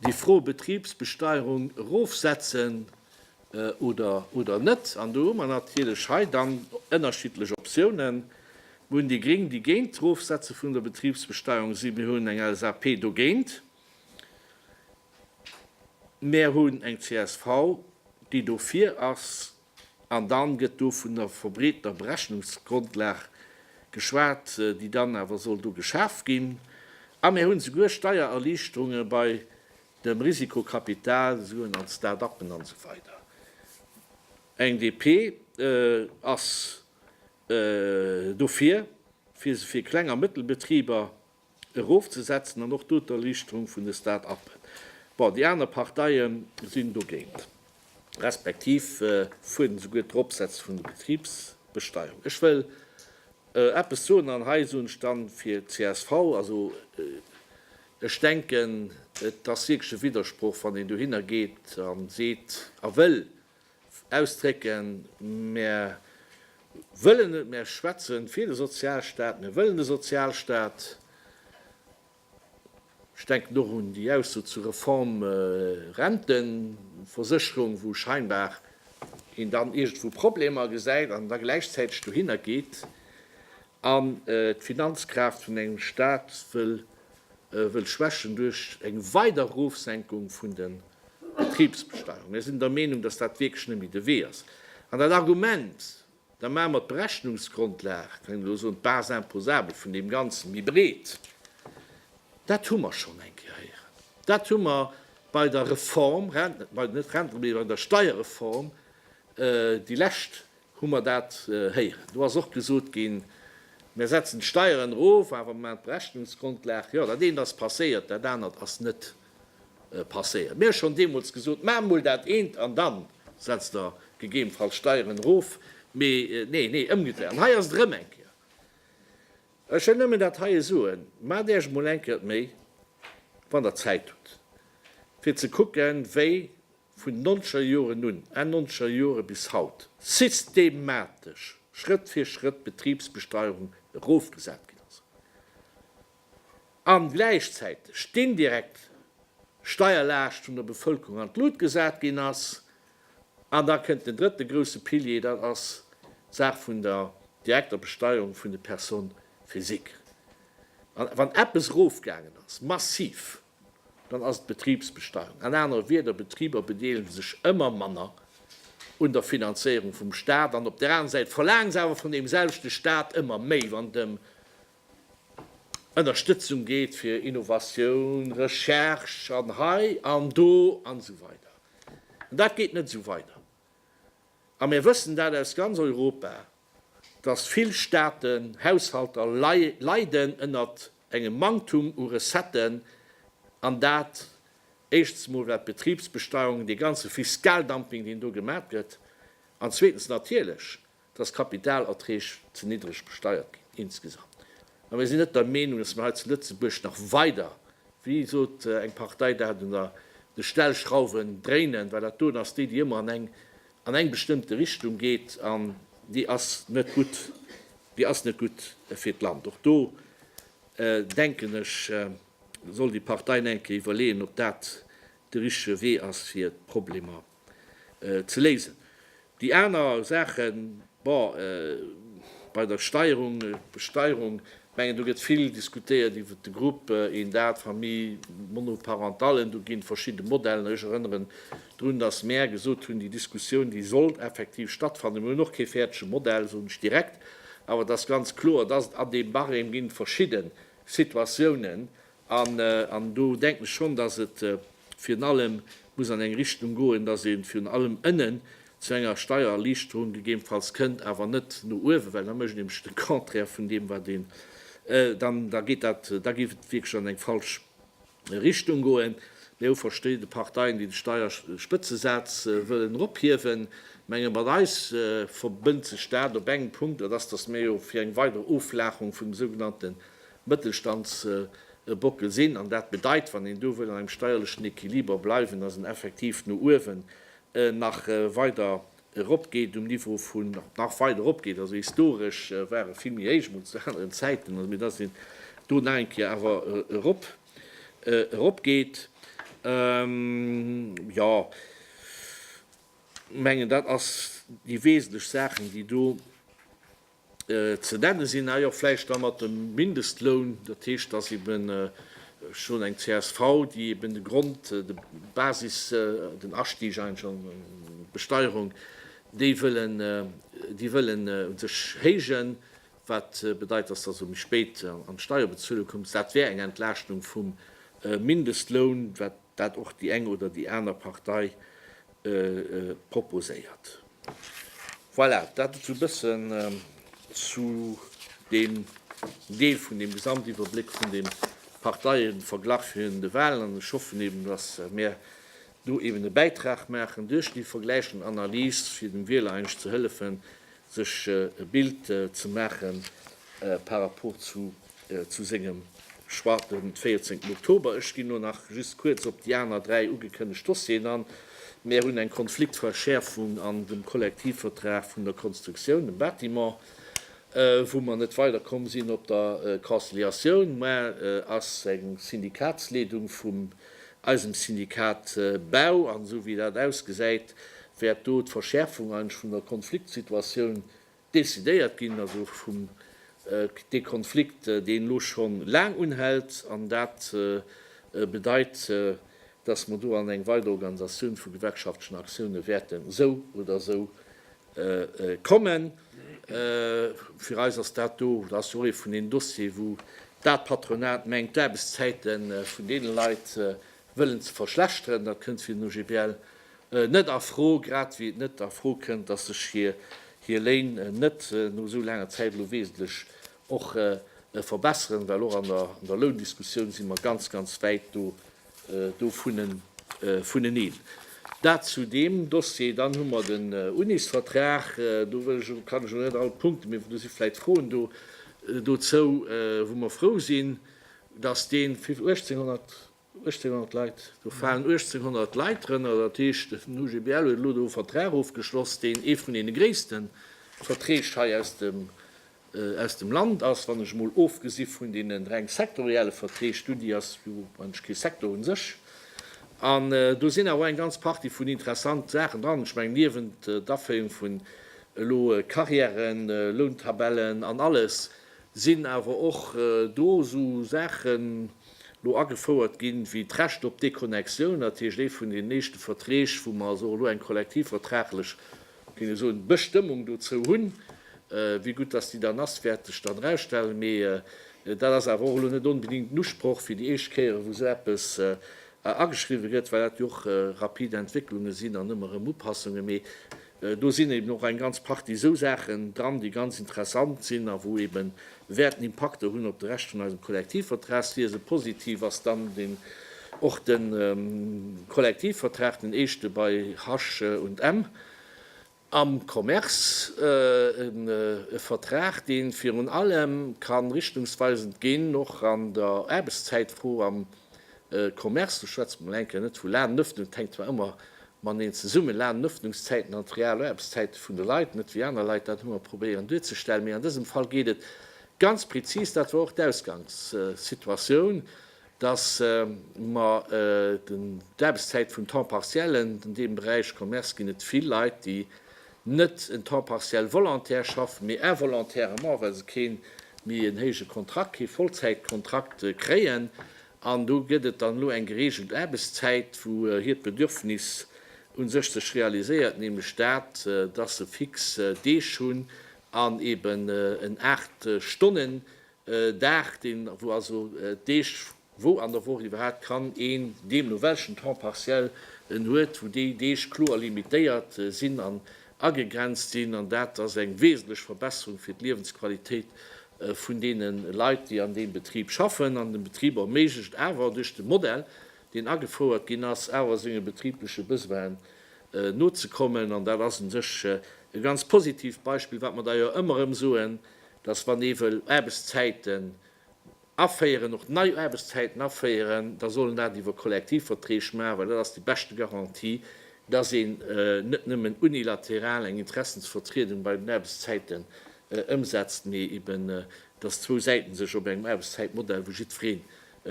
Déi Fro Betribsbesteierung erofsetzen oder net, an do hu mer natierlech hei dann ënnerschiddlech Optiounen. Mir hunn déi Gréng, déi géint d'Erofsetze vun der Betribsbesteierung sinn. Mir hunn eng LSAP dogéint. Mir hunn eng csv, déi dofir ass. An dann gëtt do vun der verbreetener Berechnungsgrondlag geschwat, déi dann awer soll do geschaf ginn. A mir hunn souguer Steiererliichterunge bei dem Risikokapital, esou un an Start-uppen an esou weider. Eng DP ass dofir, fir se fir Kleng a Mëttelbetriber erofzesetzen an och do d'Erliichterung vun de Start-uppen. Bon, déi aner Parteie sinn dogéint, respektiv fuerderen souguer d'Eropsetzen vun der Betribsbesteierung. Ech wëll eppes soen, an hei soen ech dann fir csv, also ech denken, et ass wierklech e Widdersproch, wann een dohinner geet a seet, a wëll Ausdrécken, Mär wëllen et, mär schwätze fir de Sozialstaat, mir wëllen de Sozialstaat. Ech denken och un déi Ausso zur Reform Rentenversécherung, wou scheinbar een dann iergendwou Problemer gesäit an da gläichzäiteg dohinner geet. an d'Finanzkraaft vun engem Staat wëll schwächen duerch eng weider Erofsenkung vun der Betribsbesteierung. Mir sinn der Meenung, dass dat wierklech net méi de Wee ass. An dat Argument, da maache mer d'Berechnungsgrondlag, kann een elo soen, d'Base imposable vun deem Ganzen méi breet, dat hu mer schonn eng Kéier héieren. Dat hu mer bei der Reform, net Rentenreform, mee bei der Steierreform déi lescht Hu mer dat héieren. Do ass och gesot ginn, Mir setzen d'Steieren erof, awer mer maachen d'Berechnungsgrundlag. Jo, dat eent ass passéiert, dat anert ass net passéiert. Mir hu schonn deemools gesot, Maacht emol dat eent an da setzt Der gegebenfalls d'Steieren erof. Mee nee, nee, ëmgedréit. An hei ass et erëm eng Kéier. Ech wëll nëmmen dat heie soen, Maacht Iech emol eng Kéier d'Méi, wann Der Zäit hutt, fir ze kucken, wéi vun nonzeger Joren un, Enn nonzeger Jore bis haut, systematesch Schrëtt fir Schrëtt d'Betribsbesteierung erofgesat ginn ass an gläichzäiteg d'indirekt Steierlaascht vun der Bevëlkerung an d'Lut gesat ginn ass. An da kënnt den drëtte grousse Pilier, dat ass d'Saach vun der direkter Besteierung vun de Personnes physiques. An wann eppes erofgaangen ass, massiv, Dann ass et d'Betribsbesteuerung. An anere Wieder, Betriber bedeelege sech ëmmer manner un der Finanzéierung vum Staat. An op där aner Säit verlaangen se awer vun deem selwechte Staat ëmmer méi, wann et ëm Ënnerstëtzung geet fir Innovatioun, Recherche an hei an do an esou weider. Dat geet net esou weider. a mir wëssen dat aus ganz Europa, dass vill Staaten, Haushalter leiden ënnert engem Manktum u Recetten, an dat éischstens emol wat d'Betriebsbesteuerung, dee ganze Fiskaldumping, deen do gemat gëtt, an zweetens natierlech, dass d'Kapitalerträg ze niddreg besteiert ginn insgesamt. A mir sinn net der Meenung, dass mir hei zu Lëtzebuerg nach weider, wéi sot eng Partei dat, un der de Stellschrauwen dréinen, well dat doen ass déi, déi ëmmer an eng an eng bestëmmte Richtung geet, an déi ass net gutt, déi ass net gutt fir d'Land. Och do, denken ech, soll déi Partei nach eng Kéier iwwerleeën, ob dat de richtege Wee ass, fir d'Problemer ze léisen. Déi aner Saachen, bon, bei der Steierung, Besteierung, ech mengen do gëtt vill diskutéiert iwwert de Grupp, een dat, Famille monoparentale, do gi verschidde Modellen. Ech erënnere drun, datt mär gesot hunn, déi Diskussioun, déi sollt effektiv stattfannen. Mir hunn och kee fäerdege Modell, soen ech direkt. Awer et ass ganz kloer, datt et an deem Barème ginn verschidde Situatiounen, An do denken ech schonn, dass et virun allem muss an eng Richtung goen, dass ee virun allem ënnen zu enger Steiererliichterung gegebenfalls kënnt, awer net no uewen, well da mécht ee nämlech de Contraire vun deem, wat een dann, da geet dat, da géif et wierklech an eng falsch Richtung goen. Mir hu verschidde Parteien, déi de Steierspëtzesaz wëllen erophiewen. Menge mat eis verbënnt sech dat op engem Punkt, dat ass, dass mir jo fir eng weider Oflaacherung vun de sougenannte Mëttelstandsbockel sinn. An dat bedeit, wann een do wëll an engem steierlechen Equiliber bleiwen, dass en effektiv no uewen nach weider eropgeet um Niveau vun, nach weider eropgeet. Also historesch war e vill méi héich, emol zu aneren Zäiten, also mee dass een do nach eng Kéier awer erop, eropgeet. Jo, mengen dat ass déi wesentlech Saachen, déi do. Ze nenne sinn hei och vläicht da mat dem Mindestloun, dat heescht, dass eeben schonn eng csv, déi eeben de Grond, de Basis, den Astieg eigentlech an d'Besteierung, déi wëllen, déi wëllen u sech héijen, wat bedeit, dass der esou méi spéit an d'Steierbezuele kommt. Dat wär eng Entlaaschtung vum Mindestloun, wat dat och déi eng oder déi aner Partei proposéiert. Voilà, dat esou e bëssen zu deem Deel vun deem Gesamtiwwerbléck vun deem Parteieverglach virun de Walen. An ech hoffen eben, dass mir do eben e Bäitrag maachen duerch déi vergläichend Analys, fir dem Wieler eigentlech ze hëllefen, sech e Bild ze maachen par rapport zu zu sengem Choix den 14 Oktober. Ech ginn elo nach just kuerz op déi aner dräi ugekënnegt Dossieren an. Mär hunn eng Konfliktverschäerfung an dem Kollektivvertrag vun der Konstruktioun, dem Bâtiment, wou mer net weiderkomm sinn op der Conciliatioun. Mär ass eng Syndikatsleedung vum eisem Syndikat Bau an esou wéi dat ausgesäit, wäert do d'Verschäerfung eigentlech vun der Konfliktsituatioun Decidéiert ginn ass och vum dee Konflikt, deen elo scho laang unhält, an dat bedeit, dass mer do an eng weider Organisatioun vu gewerkschaftlechen Aktioune wäerten esou oder esou kommen. Fir eis ass dat do, dat ass jo och ee vun deenen Dossiere, wou d'Patronat mengt, d'Aarbechtszäite vun deene Leit wëllen ze verschlechteren, dat kënnt fir den OGBL net a Fro, grad ewéi et net a Fro kënnt, datt sech hir Léin net no esou laanger Zäit elo wesentlech och verbesseren, well och an der Loundiskussioun si mer ganz, ganz wäit do vuneneen. Dat zu deem Dossier. Dann hu mer den Unisvertrag. Do wëll ech elo, kann ech elo net all d'Punkten, mee do si vläicht Froen do dozou, wou mer frou sinn, Dass dee fir 1800 Leit, do falen 1800 Leit drënner, dat heescht den OGBL huet elo do e Vertrag ofgeschloss, deen ee vun deene gréisste Verträg hei aus dem Land ass, wann ech emol ofgesi vun deenen reng sektorielle Verträg, d'Uni ass jo eigentlech kee Secteur un sech. An do sinn awer och eng ganz Partie vun interessante Saachen dran, ech mengen niewent d'Aféierung vun elo Carrièren, Lountabellen an alles, sinn awer och do esou Saachen elo agefouert ginn, wéi d'Recht op Déconnexioun, dat heescht ee vun deenen éischte Verträg, wou mer also och elo eng kollektivvertraglech, géing ech soen, Bestëmmung dozou hunn. Wéi gutt dass déi dann ass, wäert sech dann erausstellen, mee dat ass awer och elo net onbedéngt den Usproch fir déi éischt Kéiere wou esou eppes ageschriwwen gëtt, well dat jo och rapid Entwécklunge sinn an ëmmer erëm Upassunge. Mee Do sinn eben och eng ganz Partie esou Saachen dran, déi ganz interessant sinn a wou ebe wäerten Impakter hunn op de Rescht vun eisem Kollektivvertrag. Sief se positiv, ass dann och de Kollektivvertrag, den eischte bei H&M am Commerce, e Vertrag, dee virun allem ka richtungsweisend ginn och an der Aarbechtszäitfro am Commerce. Do schwätze mer elo eng Kéier net vu laangen Ëffnungen, dat hänkt zwar ëmmer Mateneen zesumme lanen d'Ëffnungszäiten an d'Realaarbetszäite vun de Leit, net wéi aner Leit dat ëmmer probéieren duerzestellen. Mee an dësem Fall geet et ganz prezis, dat war och d'Ausgangssituatioun, dass mer d'Aarbetszäit vum Temps partiel, an deem Beräich Commerce ginn et vill Leit, déi net en Temps partiel volontaire schaffen, mee involontairement, well se kee méi en héije Kontrakt, kee Vollzäitkontrakt kréien. An do gëtt et dann elo eng gereegelt Aarbechtszäit, wou hiert Bedürfnis u sech sech realiséiert, nämlech dat, dass se fix Deeg hunn an eben en aacht Stonnen Dag, deen, wou also d'Deeg, wou an der Woch iwwerhaapt kann een, deemno welchen Temps partiel en huet, wou déi Deeg kloer limitéiert sinn an agegrenzt sinn, an dat ass eng wesentlech Verbesserung fir d'Liewensqualitéit vun deene Leit, déi an deem Betrib schaffen. An de Betrib erméiglecht awer, duerch de Modell, deen agefouert ginn ass, awer senge betribleche Besoinen nozekommen. An dat ass u sech e ganz positiivt Beispill, wat mer da jo ëmmer erëm soen, dass, wann ee wëll Aarbechtszäite aféieren, och nei Aarbechtszäiten aféieren, da soll en dat iwwer Kollektivverträg maachen, well dat ass déi beschte Garantie, dass een net nëmmen unilateral eng Interessensvertriedung bei den Aarbechtszäiten ëmsetzt, mee eben dass zwou Säite sech op engem Aarbechtszäitmodell, wou jiddweree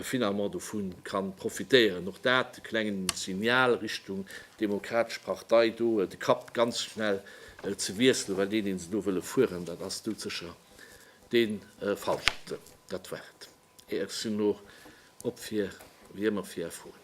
finalement dovu ka profitéieren, och dat e klengen Signal Richtung Demokratesch Partei, do de Kapp ganz schnell ze wiesselen, well deen, deen se do wëlle fueren, dat ass doudsécher Dee falschten, dat war et. Et ass jo no op fir, wéi ëmmer, fir Är Froen.